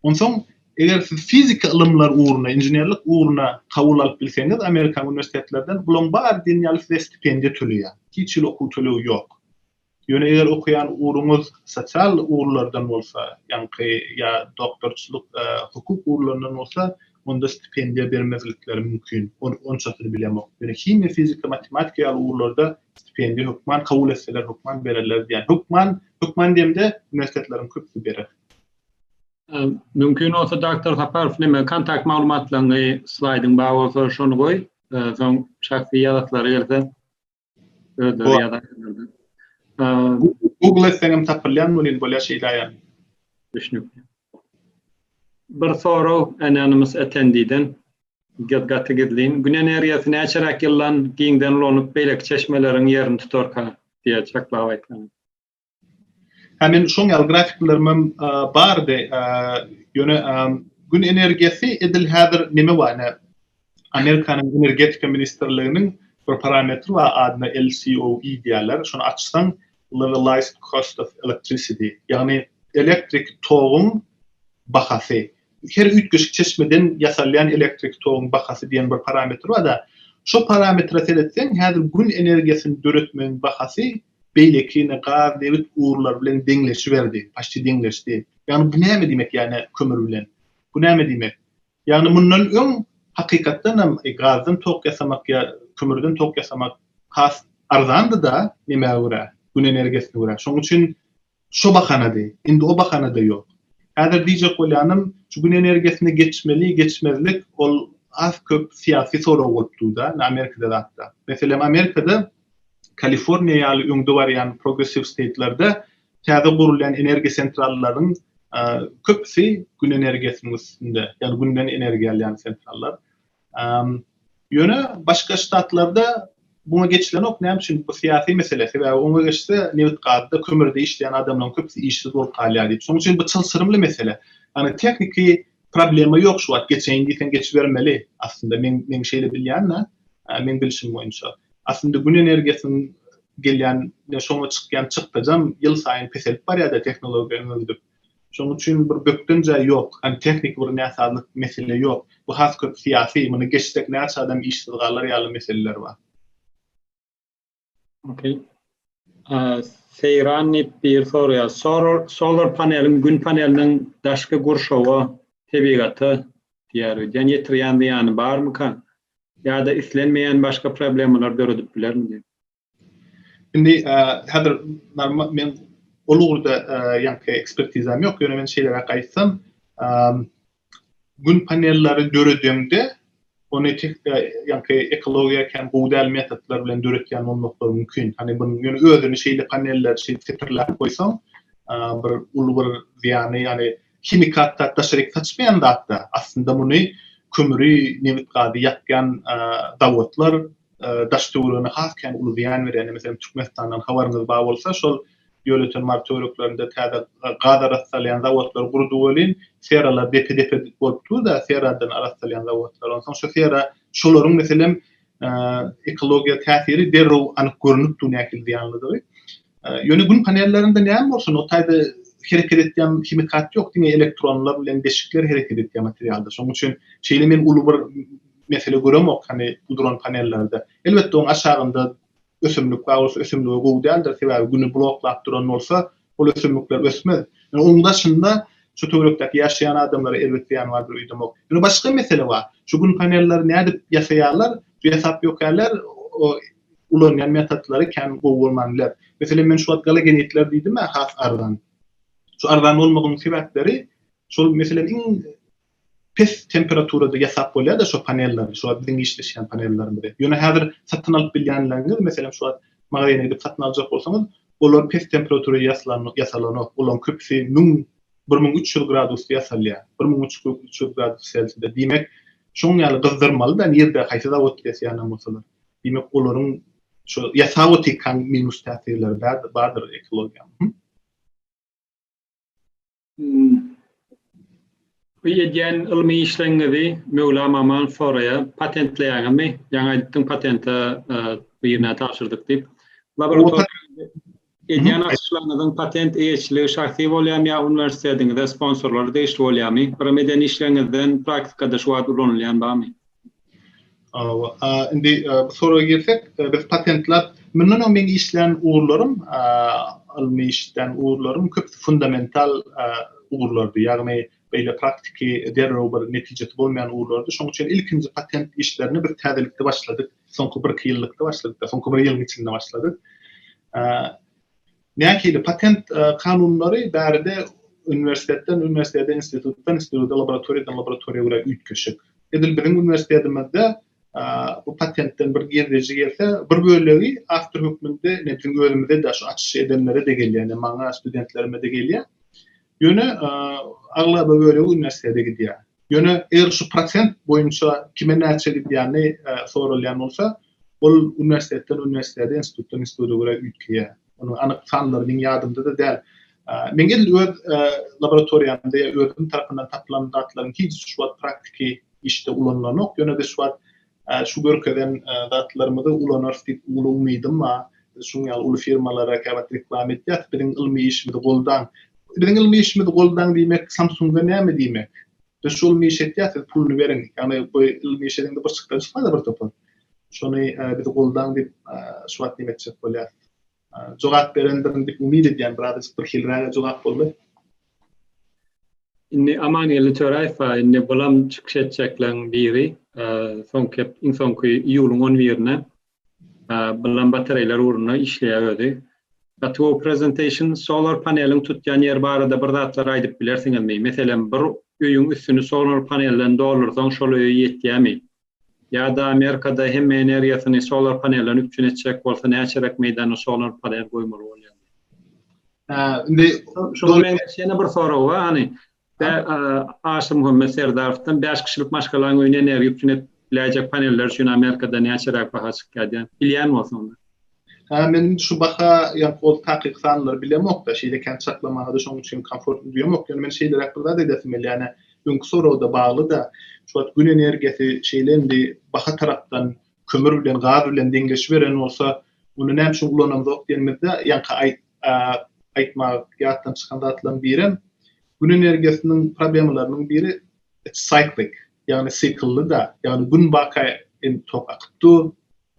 Onsoň eger siz fizika ylymlar ugruna, inženerlik ugruna kabul alyp bilseňiz amerikan uniwersitetlerden bulaň bary diýen ýaly size stipendiýa töleýär. Hiç hili okuw tölegi ýok. Ýöne eger okaýan ugruňyz sosial ugurlardan bolsa, ýaňky ýa doktorçylyk, hukuk ugurlaryndan bolsa, onda stipendiýa bermezlikleri mümkin. Ony onçasyny bilemok. Ýöne himiýa, fizika, matematika ýaly ugurlarda stipendiýa hökman kabul etseler, hökman bererler diýýän. Hökman, hökman diýemde, uniwersitetleriň köpüsi berer. Mümkin bolsa Doctor Saparow neme kontakt maglumatlaryňy slaýdyň bar bolsa şony goý, soň şahsy ýazasylar gelse Özleri ýazarlardy. Google etseňem tapylýan welin bolýar şeýle aýal. Düşnükli. Bir sorag Anonymous Attendee-den. Gep gaty gizlin. Gün energiýasy näçeräk ýyldan giňden ulanyp beýleki çeşmeleriň ýerini tutarka? diýýär çaklap aýtganda. Hä men şoň ýaly grafiklerimem bardy. Ýöne Gün energiýasy edil häzir neme bar ine Amerikanyň energetika ministrliginiň bir parametri bar adyna LCOE diýýärler. Şony açsaň Levelized cost of electricity ýagny elektrik toguň bahasy. Her üýtgeşik çeşmeden ýasalýan elektrik toguň bahasy diýen bir parametr barda. Şo parametre seretseň häzir Gün energiýasyny döretmegiň bahasy beýlekine gaz nebit gurlary bilen deňleşiberdi, paşti deňleşdi. Ýagny bu näme diýmek ýane kömür bilen? Bu näme diýmek? Ýagny mundan öň hakykatdan hem gazdan tok ýasamak ýa kömürden tok ýasamak has arzandyda nemä görä, gün energiýasyna görä. Şoň üçin Şo bahanady. Indi o bahana-da ýok. Häzir diýjek bolýanym, şu Gün energiýasyna geçmeli, geçmezlik, ol az-köp syýasy sorag bolup dur-da, indi Amerikada zat-da. Meselem, Amerikada Kaliforniýa ýaly öňde barýan progressiw steýtlerde täze gurulýan energiýa sentrallaryň köpüsi Gün energiýasynyň üstünde, ýagny Günden energiýa alýan sentrallar. Ýöne başga ştatlarda muňa geçilenok, näme üçin? Bu syýasy mesele. Sebäbi oňa geçse, nebit-gazda, kömürde işleýän adamlaryň köpüsi işsiz bolup galýar diýip. Şonuň üçin bu çylşyrymly mesele. Ýagny tehniki problema ýok şu wagt, geçeýin diýseň geçibermeli. Aslynda men, men şeýle bilýän-de, meň bilşim boýunça. Aslynda Gün energiýasynyň gelýän, şoňa çykýan çykdajam ýylsaýyn peselip barýar-da, tehnologiýa öňe gidip. Şonuň üçin bir bökden jaý ýok, hany tehniki bir näsazlyk mesele ýok. Bu has köp syýasy, muny geçsek näçe adam işsiz galar ýaly meseleler bar. Ok. Seýran Nepbiýew soraýar, solar paneliň, gün paneliniň daşky gurşawa, tebigata diýer öýdýän ýetirýän zyýany barmyka? Ýa-da islenmeýän başga problemalar döredip bilermi diýip. Indi häzir men ol ugurda ýaňky ekspertizam ýok, ýöne men şeýleräk aýtsam, gün panelleri döredende ony ýaňky ekologiýa kän gowy däl metodlar bilen döretýän bolmaklary mümkin. Hany bu ýöne özüni şeýle paneller şeýdip setirläp goýsaň, bir uly bir zyýany, ýagny himikat zat daşaryk saçmaýan zatda aslynda muny kömri, nebit gazy ýakýan zawodlar, daş töweregine has kän uly zyýan berýär. Meselem, Türkmenistandan habaryňyz bar bolsa, şol Ýöleýten Mary töwereklerinde täze gaz arassalýan zawodlar gurdy welin, seralar depe-depe bolup dur-da, seradan arassalýan zawodlar. Onsoň şu sera, şolaryň meselem, ekologiýa täsiri derrew anyk görnüp dur nähili zyýanlydygy. Ýöne Gün panellerinde näme bolsun, o taýda hereket edýän himikat ýok, diňe elektronlar bilen deşikler hereket edýän materialdyr. Şonuň üçin şeýle men uly bir mesele göremok hany bu duran panellerde. Elbetde oň aşagynda ösümlik bar bolsa ösümlige gowy däldir sebäbi güni bloklap duran bolsa ol ösümlikler ösmez. Ýöne oň daşynda şu töwerekdäki ýaşaýan adamlara erbet zyýany bardyr öýdemok. Ýöne başga mesele bar. Şu gün panelleri nädip ýasaýarlar şu ýasap ýökärler o ulanýan metodlary kän gowy bolman biler. Meselem men şu wagt galagenitler diýdimä has arzan. Şu arzan bolmagynyň sebäpleri şol meselem iň pes temperaturada ýasap bolýar-da şo panelleri, şu wagt biziň işleşýän panellerimizi. Ýöne häzir satyn alyp bilýänleriňiz, meselem, şu wagt magazyna gidip satyn aljak bolsaňyz, olar pes temperaturada ýasalan, ýasalanok. Olaryň köpüsi müň, bir müň üç ýüz gradusda ýasalýar. Bir müň üç ýüz gradus selsiýada. Diýmek, şoň ýaly gyzdyrmaly-da, nirde, haýsy zawodda ýasaýanam bolsalar. Diýmek, olaryň şo ýasaw'a tekan minus täsirleri bärdir, bardyr ekologiýa. Bu edýän ylmy işleňňizi Möwlam Aman soraýar, patentleýäňizmi? Ýaňy aýdypdyň patente birine tabşyrdyk diýip. Laboratoriýa edýän açyşlaryňyzyň patent eýeçiligi şahsy bolýamy ýa uniwersitetiňize sponsorlary degişli bolýamy? Birimeden işleňňizden praktikada şu wagt ulanylýan barmy? Hawa, indi bu soraga gelsek, biz patentler, mundan öň meň işlän ugurlarym, ylmy işlän ugurlarym köp fundamental ugurlardy. Ýagny beýle praktiki derrew bir netijesi bolmaýan ugurlardy. Şonuň üçin ilkinji patent işlerine biz täzelikde başladyk. Soňky birki ýyllykda başladyk, soňky bir ýylyň içinde başladyk. Nähili patent kanunlary bärde uniwersitetden uniwersitete, institutdan instituta, laboratoriýadan laboratoriýa görä üýtgeşik. Edil biziň uniwersitetimizde bu patentden bir girdeji gelse, bir bölegi awtor hökmünde ine biziň özümize-de, şu açyşy edenlere-de gelýär, ine maňa, studentlerime-de gelýär. Ýöne aglaba bölegi uniwersitete gidýär. Ýöne eger şu prosent boýunça kime näçe gidýäni soralýan bolsa, ol uniwersitetden uniwersitete, institutdan instituta görä üýtgeýär. Onuň anyk sanlary meň ýadymda-da däl. Meň edil öz laboratoriýamda ýa özüm tarapyndan tapylan zatlaryň hiç şu wagt praktiki işde ulanylanok, ýöne biz şu wagt Şu görkezen zatlarymyzy ulanarys diýip uly umydym bar. Biz şuň ýaly uly firmalara käwagt reklama etýäs, biziň ylmy işimizi goldaň. Biziň ylmy işimizi goldaň diýmek Samsung-a näme diýmek? Biz şu ylmy işi etýäs, siz puluny beriň. Ýagny bu ylmy iş edeňde bir çykdan çykmaz-a bir topar. Şony bizi goldaň diýip şu wagt diýmek etjek bolýas. Jogap berendirin diýip umyt edýän biraz birhilräge jogap boldy. Indi Amangeldi Töräýew bar, indi bulam çykyş etjekleň biri, soňky gep iň soňky iýulyň on birine bulam batareýler ugrunda işleýär özi. Gaty gowy presentation, solar paneliň tutýan ýeri barada bir zatlar aýdyp bilersiňizmi? Meselem bir öýüň üstüni solar panelden doldursaň şol öýe ýetýämi? Ýa-da Amerikada hemme energiýasyny solar panelden üpjün etjek bolsa näçeräk meýdana solar panel goýmaly bolýar? Hä, indi şuňa meňzeş ýene bir sorag bar, hany, Aşyrmuhammet Serdarowdan bäş kişilik maşgalaň öýüne energiýa üpjün edip biläýjek paneller üçin Amerikada näçeräk baha çykýar diýen, bilýän bolsaň bir. Hä men indi şu baha ýa ol takyk sanlary bilemokda şeýle kän çaklamaga-da şoň üçin komfortly duýamok ýöne men şeýleräk bir zat edesim gelýär ýane öňki soragda baglyda şu wagt gün energiýasy şeýle indi baha tarapdan kömür bilen gaz bilen deňleşiberen bolsa onda näme üçin ulanamzok diýenimizde ýaňky aýt aýtmagy ýatdan çykan zatlaryň birem gün energiýasynyň problemalarynyň biri it cyclic Ýagny syklly-da, ýagny gün baka em tok akyp dur.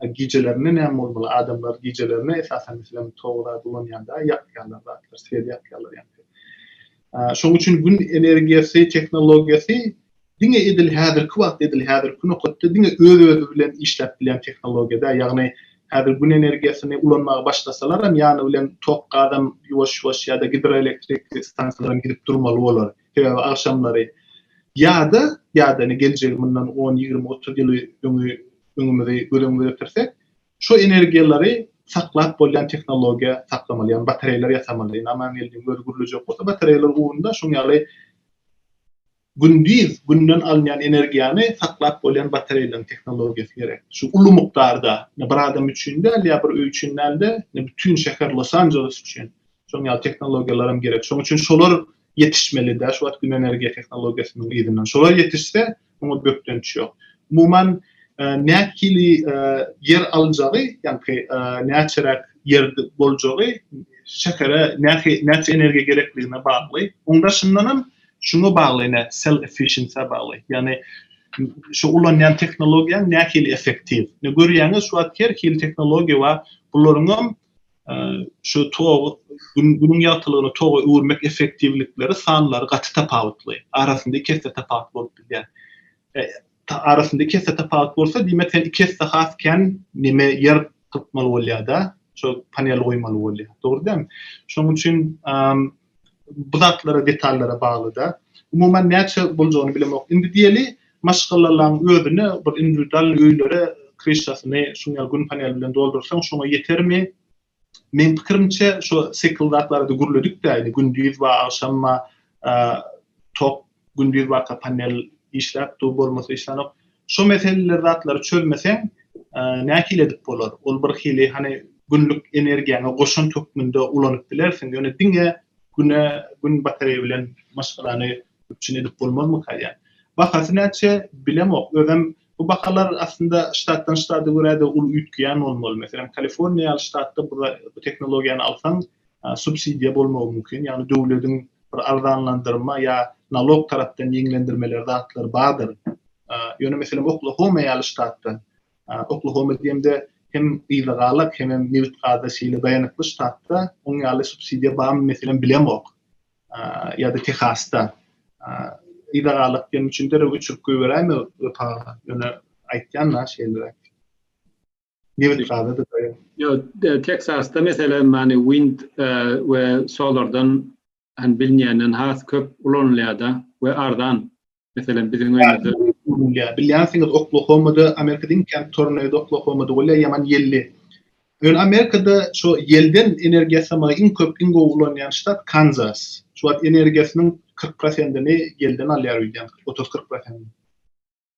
A gijelerine näme bolmaly? Adamlar gijelerine esasan meselem togy zat ulanýanda ýakýarlar zatlar, swer ýakýarlar ýaňky. Şonuň üçin gün energiýasy tehnologiýasy diňe edil häzirki wagt, edil häzirki nokatda diňe öz-özi bilen işläp bilýän tehnologiýa däl. Ýagny häzir gün energiýasyny ulanmaga başlasalaram ýany bilen tok gazam ýuwaş-ýuwaş ýa-da gidroelektrik stansiýalaram gidip durmaly bolar. sebäbi agşamlary ýa-da, ýa-da ine geljegi mundan on, ýigrimi, otuz ýyl öňi öňümizi göz öňümize getirsek, şu energiýalary saklap bolýan tehnologiýa saklamaly, ýagny batareýalar ýasamaly. Indi Amangeldiň özi gürlejek bolsa, batareýalar ugrunda şoň ýaly gündiz günden alynýan energiýany saklap bolýan batareýalaryň tehnologiýasy gerek. Şu uly mukdarda, ine bir adam üçin däl, ýa bir öý üçin däl-de, ine bütin şäher Los-Anjeles üçin şoň ýaly tehnologiýalaram gerek. Şoň üçin şolar ýetişmelidä şu wagt gün energiýa tehnologiýasynyň yzyndan. Şolar ýetişse, muňa bökdenç ýok. Umuman, nähili ýer aljagy, ýaňky näçeräk ýer boljagy şähere näçe energiýa gerekligine bagly. Oň daşyndan hem şuňa bagly ine, cell efficiency-ä bagly. Ýagny şu ulanýan tehnologiýaň nähili effektiw. Ine görýäňiz, şu wagt her hili tehnologiýa bar. Bularyň hem Şu togy Günüň ýagtylygyny toga öwürmek effektiwlikleri sanlary gaty tapawutly. Arasynda iki esse tapawut bolup bilýär. Arasynda iki esse tapawut bolsa, diýmek sen iki esse has kän neme ýer tutmaly bolýar-da, şol panel goýmaly bolýar. Dogry däl? Şonuň üçin Bu zatlara detallara baglyda. Umuman näçe boljagyny bilemok. Indi diýeli maşgalalaň özüne bir indiwidualnyý öýlere kryşasyny şuň ýaly gün paneli bilen doldursaň şoňa ýetermi? Meň pikirimçe şo sekil zatlarada gürledikdä indi gündiz ba agşam ba tok Gündiz barka panel işläp dur bolmasa işlänok. Şo meseleleri zatlary çözmeseň nähili edip bolar? Ol bir hili hany günlük energiýaňy goşant hökmünde ulanyp bilersiň ýöne diňe güne gün batareýa bilen maşgalany üpjün edip bolmazmyka diýýän. Bahasy näçe bilemok özem bu bahalar aslynda ştatdan ştada görä-de uly üýtgeýän bolmaly. Meselem Kaliforniýa ýaly ştatda bu tehnologiýany alsaň subsidiýa bolmagy mümkin, ýagny döwlediň bir arzanlandyrma ýa nalog tarapdan ýeňlendirmeleri zatlar bardyr. Ýöne meselem Oklahoma ýaly ştatda, Oklahoma diýemde hem yzagalak hemem nebit-gaza şeýle daýanykly ştatda oň ýaly subsidiýa barmy meselem bilemok. Ýa-da Tehasda. Yzagalak diýenim üçin derrew öçürip goýberäýme ýöne aýtýan-da şeýleräk. Nebit gazydyr goýa. Ýok, Teksasda meselem hani wind we solardan hani bilinýänden has köp ulanylýar-da we arzan. Meselem biziň öýümizde. Bilýänsiňiz Oklahomada Amerika diýiň Camp Tornado Oklahomada bolýar ýaman ýelli. Ýöne Amerikada şo ýelden energiýa ýasamagy iň köp iň gowy ulanýan ştat Kanzas. Şu wagt energiýasynyň kyrk prosentini ýelden alýar öýdýän otuz kyrk prosentini.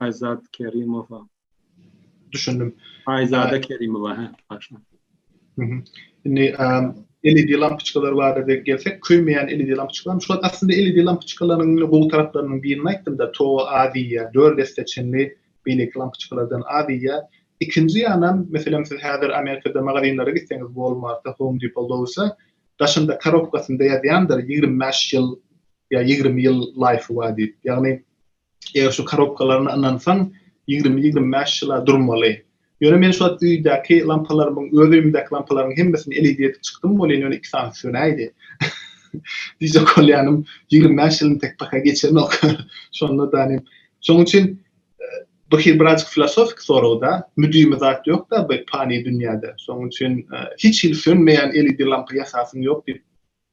Aýzat Kerimowa. Düşündim. Aýzada Kerimowa, hä, başga. Mhm. Indi LED lampoçkalar barada gelsek, köýmeýän LED lampoçkalar. Şol aslynda LED lampoçkalarynyň indi gowy taraplarynyň birini aýtdym-da, to az iýýär. 4 esse çenli beýleki lampoçkalardan az iýýär. Ikinji ýanam, meselem, siz häzir Amerikada magazinlere gitseňiz, Walmart-a, Home Depot, Lowe's-a, daşynda karobkasynda ýazýandyr, ýigrimi bäş ýyl ýa ýigrimi ýyl laýfy bar diýip. Ýagny, Eger şu korobkalaryna ynansaň, ýigrimi-ýigrimi bäş ýyla durmaly. Ýöne men şu wagt öýdäki lampalarymyň, öz öýümdäki lampalaryň hemmesini eleyde edip çykdym welin, ýöne iki sanysy sönäýdi. Diýjek bolýanym, ýigrimi bäş ýylym tek paka geçenok. Şonda danym. Şonuň üçin bu hil birazajyk filosofiki sorag-da. Müdimi zat ýok-da bu pany dünýäde. Şonuň üçin hiç hili sönmeýän eleyde lampa ýasasyň ýok diýip,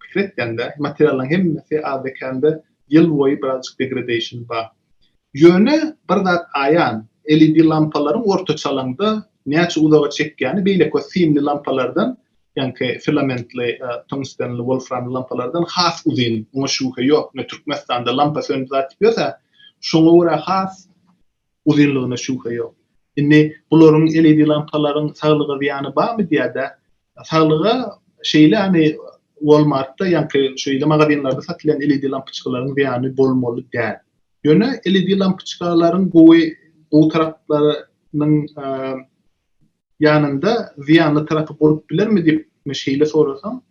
pikir etýäňde, materiallaryň hemmesi azda-kände ýyl boýy birazjyk degradation bar. Ýöne bir zat aýan, LED lampalaryň ortaça alaňda näçe uzaga çekýäni beýleki o simli lampalardan, ýaňky filamentli, tungstenli, wolframly lampalardan has uzyn. Oňa şübhe ýok. Ine, Türkmenistanda lampa söndüp-atyp ýörse, şoňa görä has uzynlygyna şübhe ýok. Indi bularyň LED lampalaryň saglyga zyýany barmy diýädä? Saglyga şeýle hani Walmartda ýaňky şeýle magazinlerde satylýan LED lampyçkalaryň zyýany bolmaly däl. Ýöne LED lampyçkalaryň gowy gowy taraplarynyň ýanynda zyýanly tarapy bolup bilermi diýip men şeýle sorasaň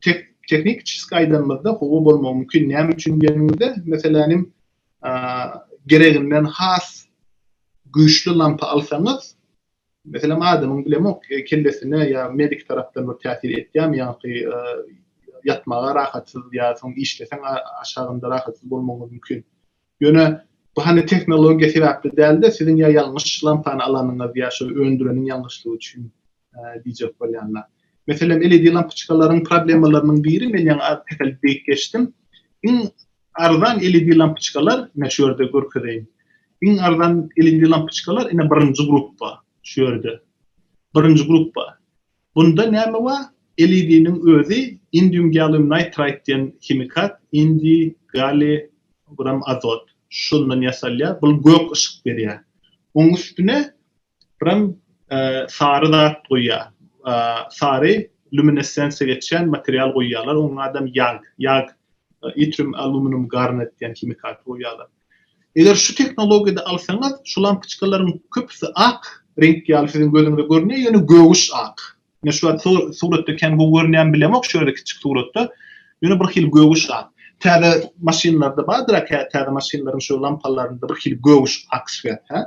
tek tehnikiçeski aýdanymyzda howa bolmagy mümkin. Näme üçin diýeniňizde meselänim gereginden has güýçli lampa alsaňyz, meselem adamyň bilemok kellesine ýa medik tarapdan bir täsir etýärmi ýaňky ýatmaga rahatsyz ýa soň işleseň aşagynda rahatsyz bolmagyňyz mümkin. Ýöne bu hany tehnologiýa sebäpli dälde siziň ýa ýalňyş lampany alanyňyz ýa şu öndüreniň ýalňyşlygy üçin diýjek bolýanda. Meselem, LED lampyçkalaryň problemalarynyň biri, men ýaňy az peselip beýik geçdim. Iň arzan LED lampyçkalar, ine şu ýerde görkezeýin. Iň arzan LED lampyçkalar ine birinji gruppa, şu ýerde. Birinji gruppa. Bunda näme bar? LED-niň özi indium gallium nitride diýen himikat, indi, galli, buram azot. Şundan ýasalýar. Bul gök yşyk berýär. Onuň üstüne Spram sary zat goýýar. Sary luminessensiýa geçýän material goýýarlar. Onuň adam ýag, ýag, itrium aluminum garnet diýen himikaty goýýarlar. Eger şu tehnologiýada alsaňyz, şu lampyçkalaryň köpüsi ak reňk ýaly siziň gözüňize görünýär, ýöne göwüş ak. Men şu wagt suratda kän gowy görünýärmi bilemok, şu ýerde kiçik suratda, ýöne bir hili göwüş ak. Täze maşynlarda bardyr-a, täze maşynlaryň şu lampalarynda bir hili göwüş ak swer, hä?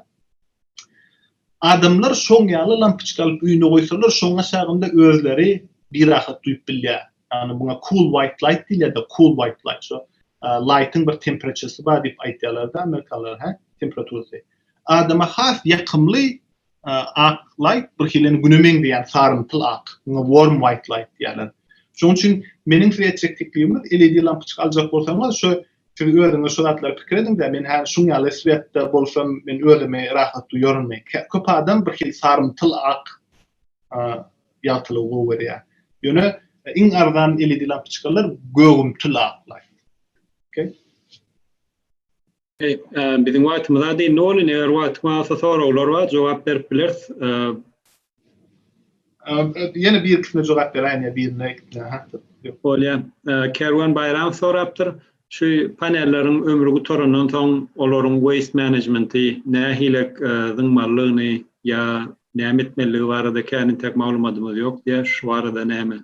Adamlar şoň ýaly lampoçka alyp öýüne goýsalar, şoň aşagynda özleri birahat duýup bilýär. Ýagny muňa cool white light diýilýär-de, cool white light. Şo light-yň bir temperaturesy bar diýip aýdýarlar-da amerikalylar, hä? Temperaturasy. Adama has ýakymly ak light bir hilini güne meňzeýän sarymtyl ak. Muňa warm white light diýýärler. Şoň üçin meniň size etjek teklibimiz LED lampoçka aljak bolsaňyz, şo Siz özüňiz şu zatlary pikir ediň-dä, men häli şuň ýaly sweatda bolsam, men özümi rahat duýarynmy? Köp adam birhili sarymtyl ak ýagtylygy gowy görýär. Ýöne iň arzan LED lampoçkalar gögümtil ak light. Okey? Okey, biziň wagtymyz az dyndy welin, eger wagtyň bolsa soraglar bar, jogap berip bileris. Ýene birkisine jogap beräýen ýa birine ikisine ha. Bolýar. Kerwen Baýramow sorapdyr. Şu panelleriň ömri gutarandan soň olaryň waste management-i nähile zyňmalydygyny ýa näme etmelidigi barada känintäk maglumadymyz ýok diýýär. Şu barada näme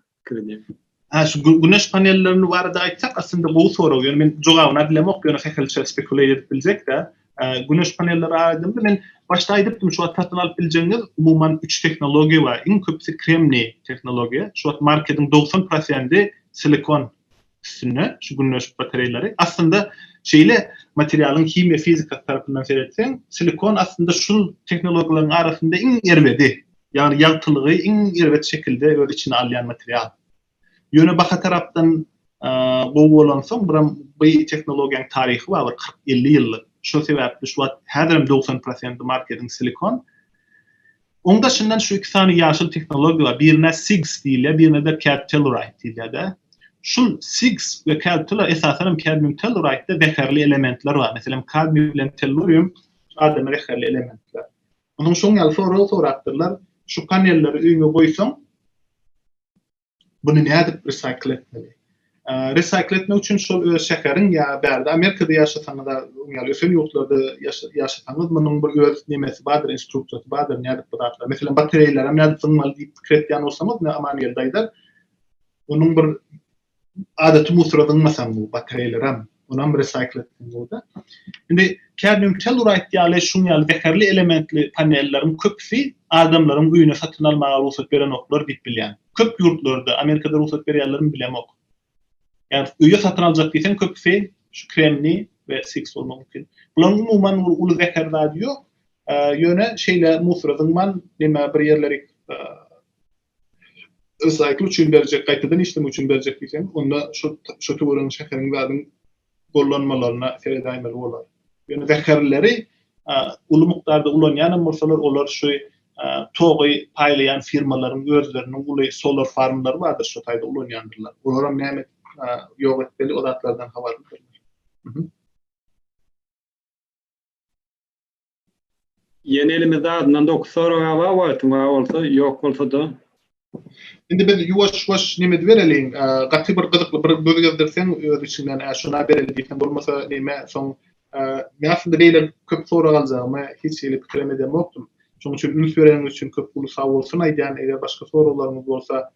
Hä şu güneş panellerini barada aýtsak aslynda gowy sorag ýöne men jogabyna bilemok ýöne hehelçe spekulýa edip biljekdä güneş panelleri aýdymda men başda aýdypdym şu wagt satyn alyp biljegiňiz umuman üç tehnologiýa bar iň köpüsi kremniý tehnologiýa şu wagt marketiň dogsan prosendi silikon Üstünde şu günleşik batareýleri. Aslynda şeýle materialyň himiýa fizikasy tarapyndan seretseň, silikon aslynda şul tehnologiýalaryň arasynda iň erbedi. Ýagny ýagtylygy iň erbet şekilde öz içine alýan material. Ýöne baha tarapdan gowy bolansoň, biram bi tehnologiýaň taryhy bar bir kyrk elli ýyllyk. Şo sebäpli şu wagt häzirem dogsan prosenti marketiň silikon. Oň daşyndan şu iki sany ýaşyl tehnologiýa bar, birine SIGS diýilýär, birine-de Cad Telluride diýilýär-de. Şul SIGS we Cad Tellur esasan hem Cadmium Telluride-de zäherli elementler bar. Meselem, kadmium bilen tellurium adama zäherli elementler. Onsoň şoň ýaly sorag sorapdyrlar, Şu panelleri öýüňe goýsaň, Buny nädip resaýkl etmeli? Resaýkl etmek üçin şol öz şäheriň ýa bärde Amerikada ýaşasaňyz, öň ýaly ösen ýurtlarda ýaşasaňyz, munuň bir öz nemesi bardyr, instruksiýasy bardyr, nädip bu zatlar. Meselem, batareýlerem nädip zyňmaly diýip pikir etýän bolsaňyz, ine, Amangeldi aýdar. Onuň bir adaty musora zyňmasaň bu batareýlerem, Onam recycle etseň bolda. Indi kadmium telluride ýaly şuň ýaly zeherli elementli panelleriň köpüsi adamlaryň öýüne satyn almaga rugsat berenoklar diýip bilýän. Köp ýurtlarda, Amerikada rugsat berýärlermi bilemok. Ýa öýe satyn aljak diýseň köpüsi şu kremni we siks bolmak mümkin. Bularyň umuman bir uly zeher zady ýok. Ýöne şeýle musora zyňman, näme bir ýerleri Resaýkl üçin berjek, gaýtadan işlemek üçin berjek diýseň, onda şo şo töweregiň şäheriň zadyň gollanmalaryna seredäýmeli bolar. Ýöne zäherleri uly mukdarda ulanýanam bolsalar, olar şu togy paýlaýan firmalaryň özleriniň uly solar farmlary bardyr, şo taýda ulanýandyrlar. Olaram näme ýok etmeli, o zatlardan habarlydyrlar. Ýene elimizde azyndan dokuz sorag bar wagtym bar bolsa, ýok bolsada. Indi biz ýuwaş-ýuwaş neme edibereliň, gaty bir gyzykly bir göz gezdirseň öz içiňden hä şuna bereli diýseň bolmasa neme soň men aslynda beýle köp sorag aljagyma hiç hili pikir hem edenokdym. Şonuň üçin üns bereniňiz üçin köp uly sagbolsun aýdýan eger başga soraglaryňyz bolsa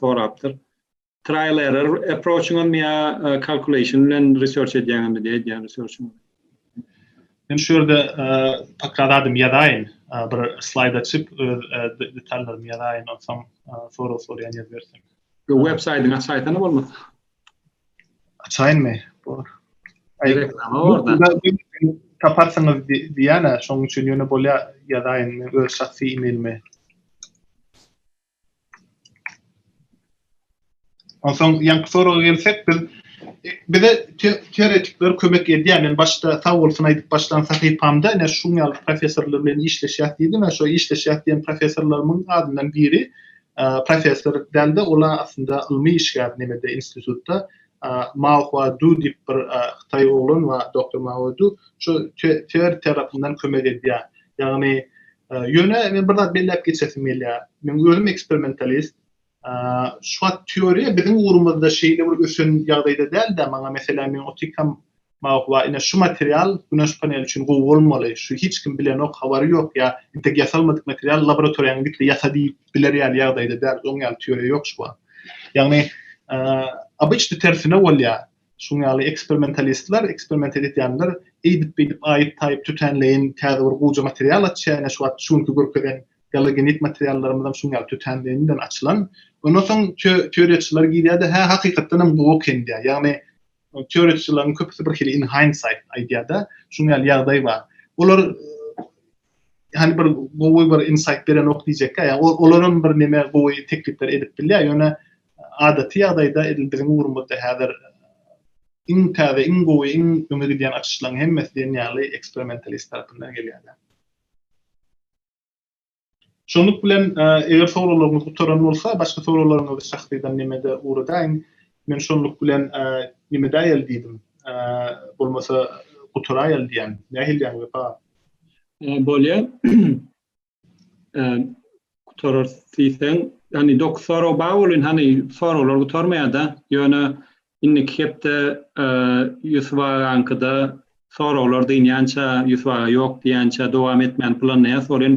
sorapdyr. Trial error approach'yňyzmy ýa calculation bilen research edýäňizmi diýip edýän research'yňyz. Men şu ýerde pakrat adym ýazaýyn, bir slaýd açyp öz detallarymy ýazaýyn, onsoň sorag sorýan ýer bersin. Bu web saýtyny açaýsana bolmasa. Açaýynmy? Bor. Reklama orada. Taparsyňyz diýýän-ä, şonuň üçin ýöne bolýar ýazaýyn öz şahsy e-mailimi. Onsoň ýaňky soraga gelsek, biz bize teoretikler kömek edýär. Men başda sag bolsun aýdyp başlan sahypamda ine şuň ýaly professorlar bilen işleşýäs diýdi. Men şo işleşýäs diýen professorlarymyň adyndan biri professor däldi. Ol aslynda ylmy işgär nemede institutda Mao Hua Du diýip bir hytaý oglan bar, doktor Mao Du. Şo teori tarapyndan kömek edýär. Ýagny Ýöne men bir zat belläp geçesim gelýär. Men özüm eksperimentalist. Şu wagt teoriýa biziň ugrumyzda şeýle bir ösen ýagdaýda däl-de, maňa meselem men otykam, maňa waý ine şu material güneş paneli üçin gowy bolmaly, şu hiç kim bilenok, habary ýok ýa entek ýasalmadyk material laboratoriýaňa git-de ýasa diýip biler ýaly ýagdaýda däl. Oň ýaly teoriýa ýok şu wagt. Ýagny, obýçdy tersine bolýar. Şuň ýaly eksperimentalistler, eksperiment edýänler eýdip-beýdip aýyp-taýyp tötänleýin täze bir guja material açýar, ine şu wagt şu günki görkezen galogenit materiallarymyzam şuň ýaly tötänleýin bilen açylan. Ondan soň teoriýaçylar girýär-de, hä hakykatdan hem gowy eken diýýär. Ýagny teoriýaçylaryň köpüsi birhili in hindsight aýdýar-da, şuň ýaly ýagdaý bar. Olar Hany bir gowy bir insight berenok diýjekkä, ýa olar hem bir neme gowy teklipler edip bilýär, ýöne adaty ýagdaýda edil biziň ugrumyzda häzir iň täze, iň gowy, iň öňe gidýän açyşlaryň hemmesi diýen ýaly eksperimentalist tarapyndan gelýär. Şunluk bilen, eger soraglaryňyz gutaran bolsa, başga soraglaryňyzy şahsydan nemede ugradaýyň. Men şunluk bilen nemedäýeli diýdim. Bolmasa gutaraýaly diýýän. Nähiliýäň Wepa? Bolýar. Gutarar diýseň, ýani dokuz sorag bar welin hany soraglar gutarmaýar-da. Ýöne indiki hepde Ýusup agaňkyda soraglar dynýança, Ýusup aga ýok diýýänçä dowam etmäni planlaýarys. Ol hem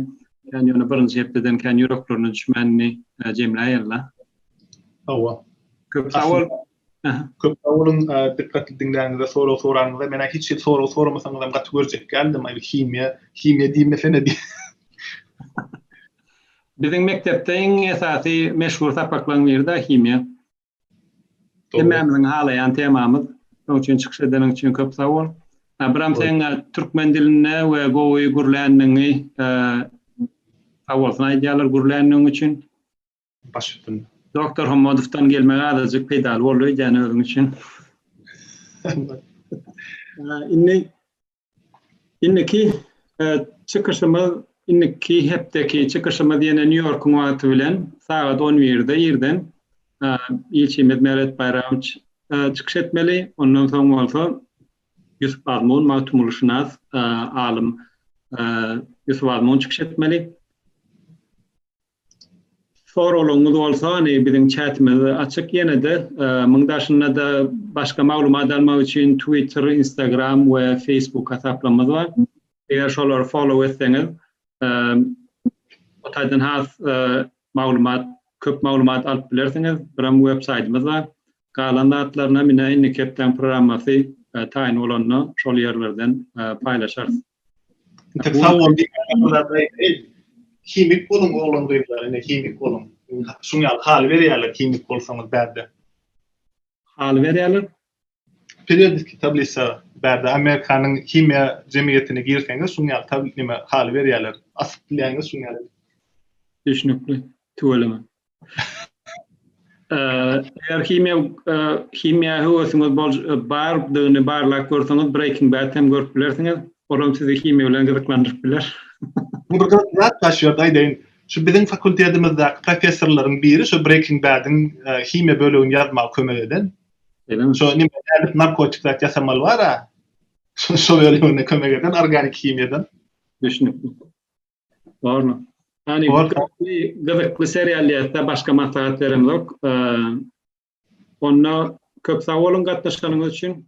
ýöne birinji hepdeden kän ýüreklerine düşmänini jemläýerler. Hawa. Köp sag bol. Köp sag boluň, dykgatly diňläniňize, sorag soranyňyza. Men-ä hiç hili sorag soramasaňyzam gaty görjek däldim, aý bu himiýa, himiýa diýmesene diý. Biziň mekdepde iň esasy meşhur sapaklaň biri-de himiýa. Hemmämiziň halaýan temamyz. Şoň üçin çykyş edeniň üçin köp sag bol. Abyram seň türkmen dilinde we gowy gürländigiňi sag bolsun aýdýarlar gürländigiň üçin. baş üstünde. Doktor Hommadowdan gelmegi azajyk peýdaly boldy öýdýän özüň üçin. Indi indiki e, çykyşymyz indiki hepdeki çykyşymyz ýene Nýu-Ýorkuň wagty bilen sagat 11-de irden e, ilçimiz Meret Baýramowiç e, çykyş etmeli. Ondan soň bolsa Ýusup Azmun magtymgulyşynas alym Ýusup Azmun çykyş etmeli. Soralyňyz bolsany biziň çätimiz açyk ýenede muň daşynada başga maglumat almak üçin twitter instagram we facebook hasaplarymyz bar eger şolary follow etseňiz o taýdan has maglumat köp maglumat alyp bilersiňiz biram web saýtymyz bar galan zatlaryna mine indiki hepdäň programmasy taýyn bolanda şol ýerlerden paýlaşarys. Tek sag bol diýip, himik boluň oglan-gyzlar, ine himik boluň. Şuň ýaly haly berýärler himik bolsaňyz bärde. Haly berýärler? Periodiki tablisa bärde Amerikanyň himiýa jemgyýetine girseňiz şuň ýaly tabl neme haly berýärler. Asyp bilýäňiz şuň ýaly. Düşnükli. Tüweleme. Eger himiýa himiýa höwesiňiz bol bardygyny barlap görseňiz Breaking Bad hem görüp bilersiňiz. Olam sizi himiýa bilen gyzyklandyryp biler. Bu bir gyzykly zat bar şu ýerde aýdaýyn. Şu biziň fakultetimizdäki professorlaryň biri şu Breaking Bad-iň himiýa bölegini ýazmaga kömek eden. Beýlemi? Şu nime nädip narkotik zat ýasamaly bar-a. Şol bölegine kömek eden organik himiýadan. Düşnükli. Barmy? Hani gyzykly seriallarda başga maslahat berem yok. Onda köp sag olun gatnaşganyňyz üçin.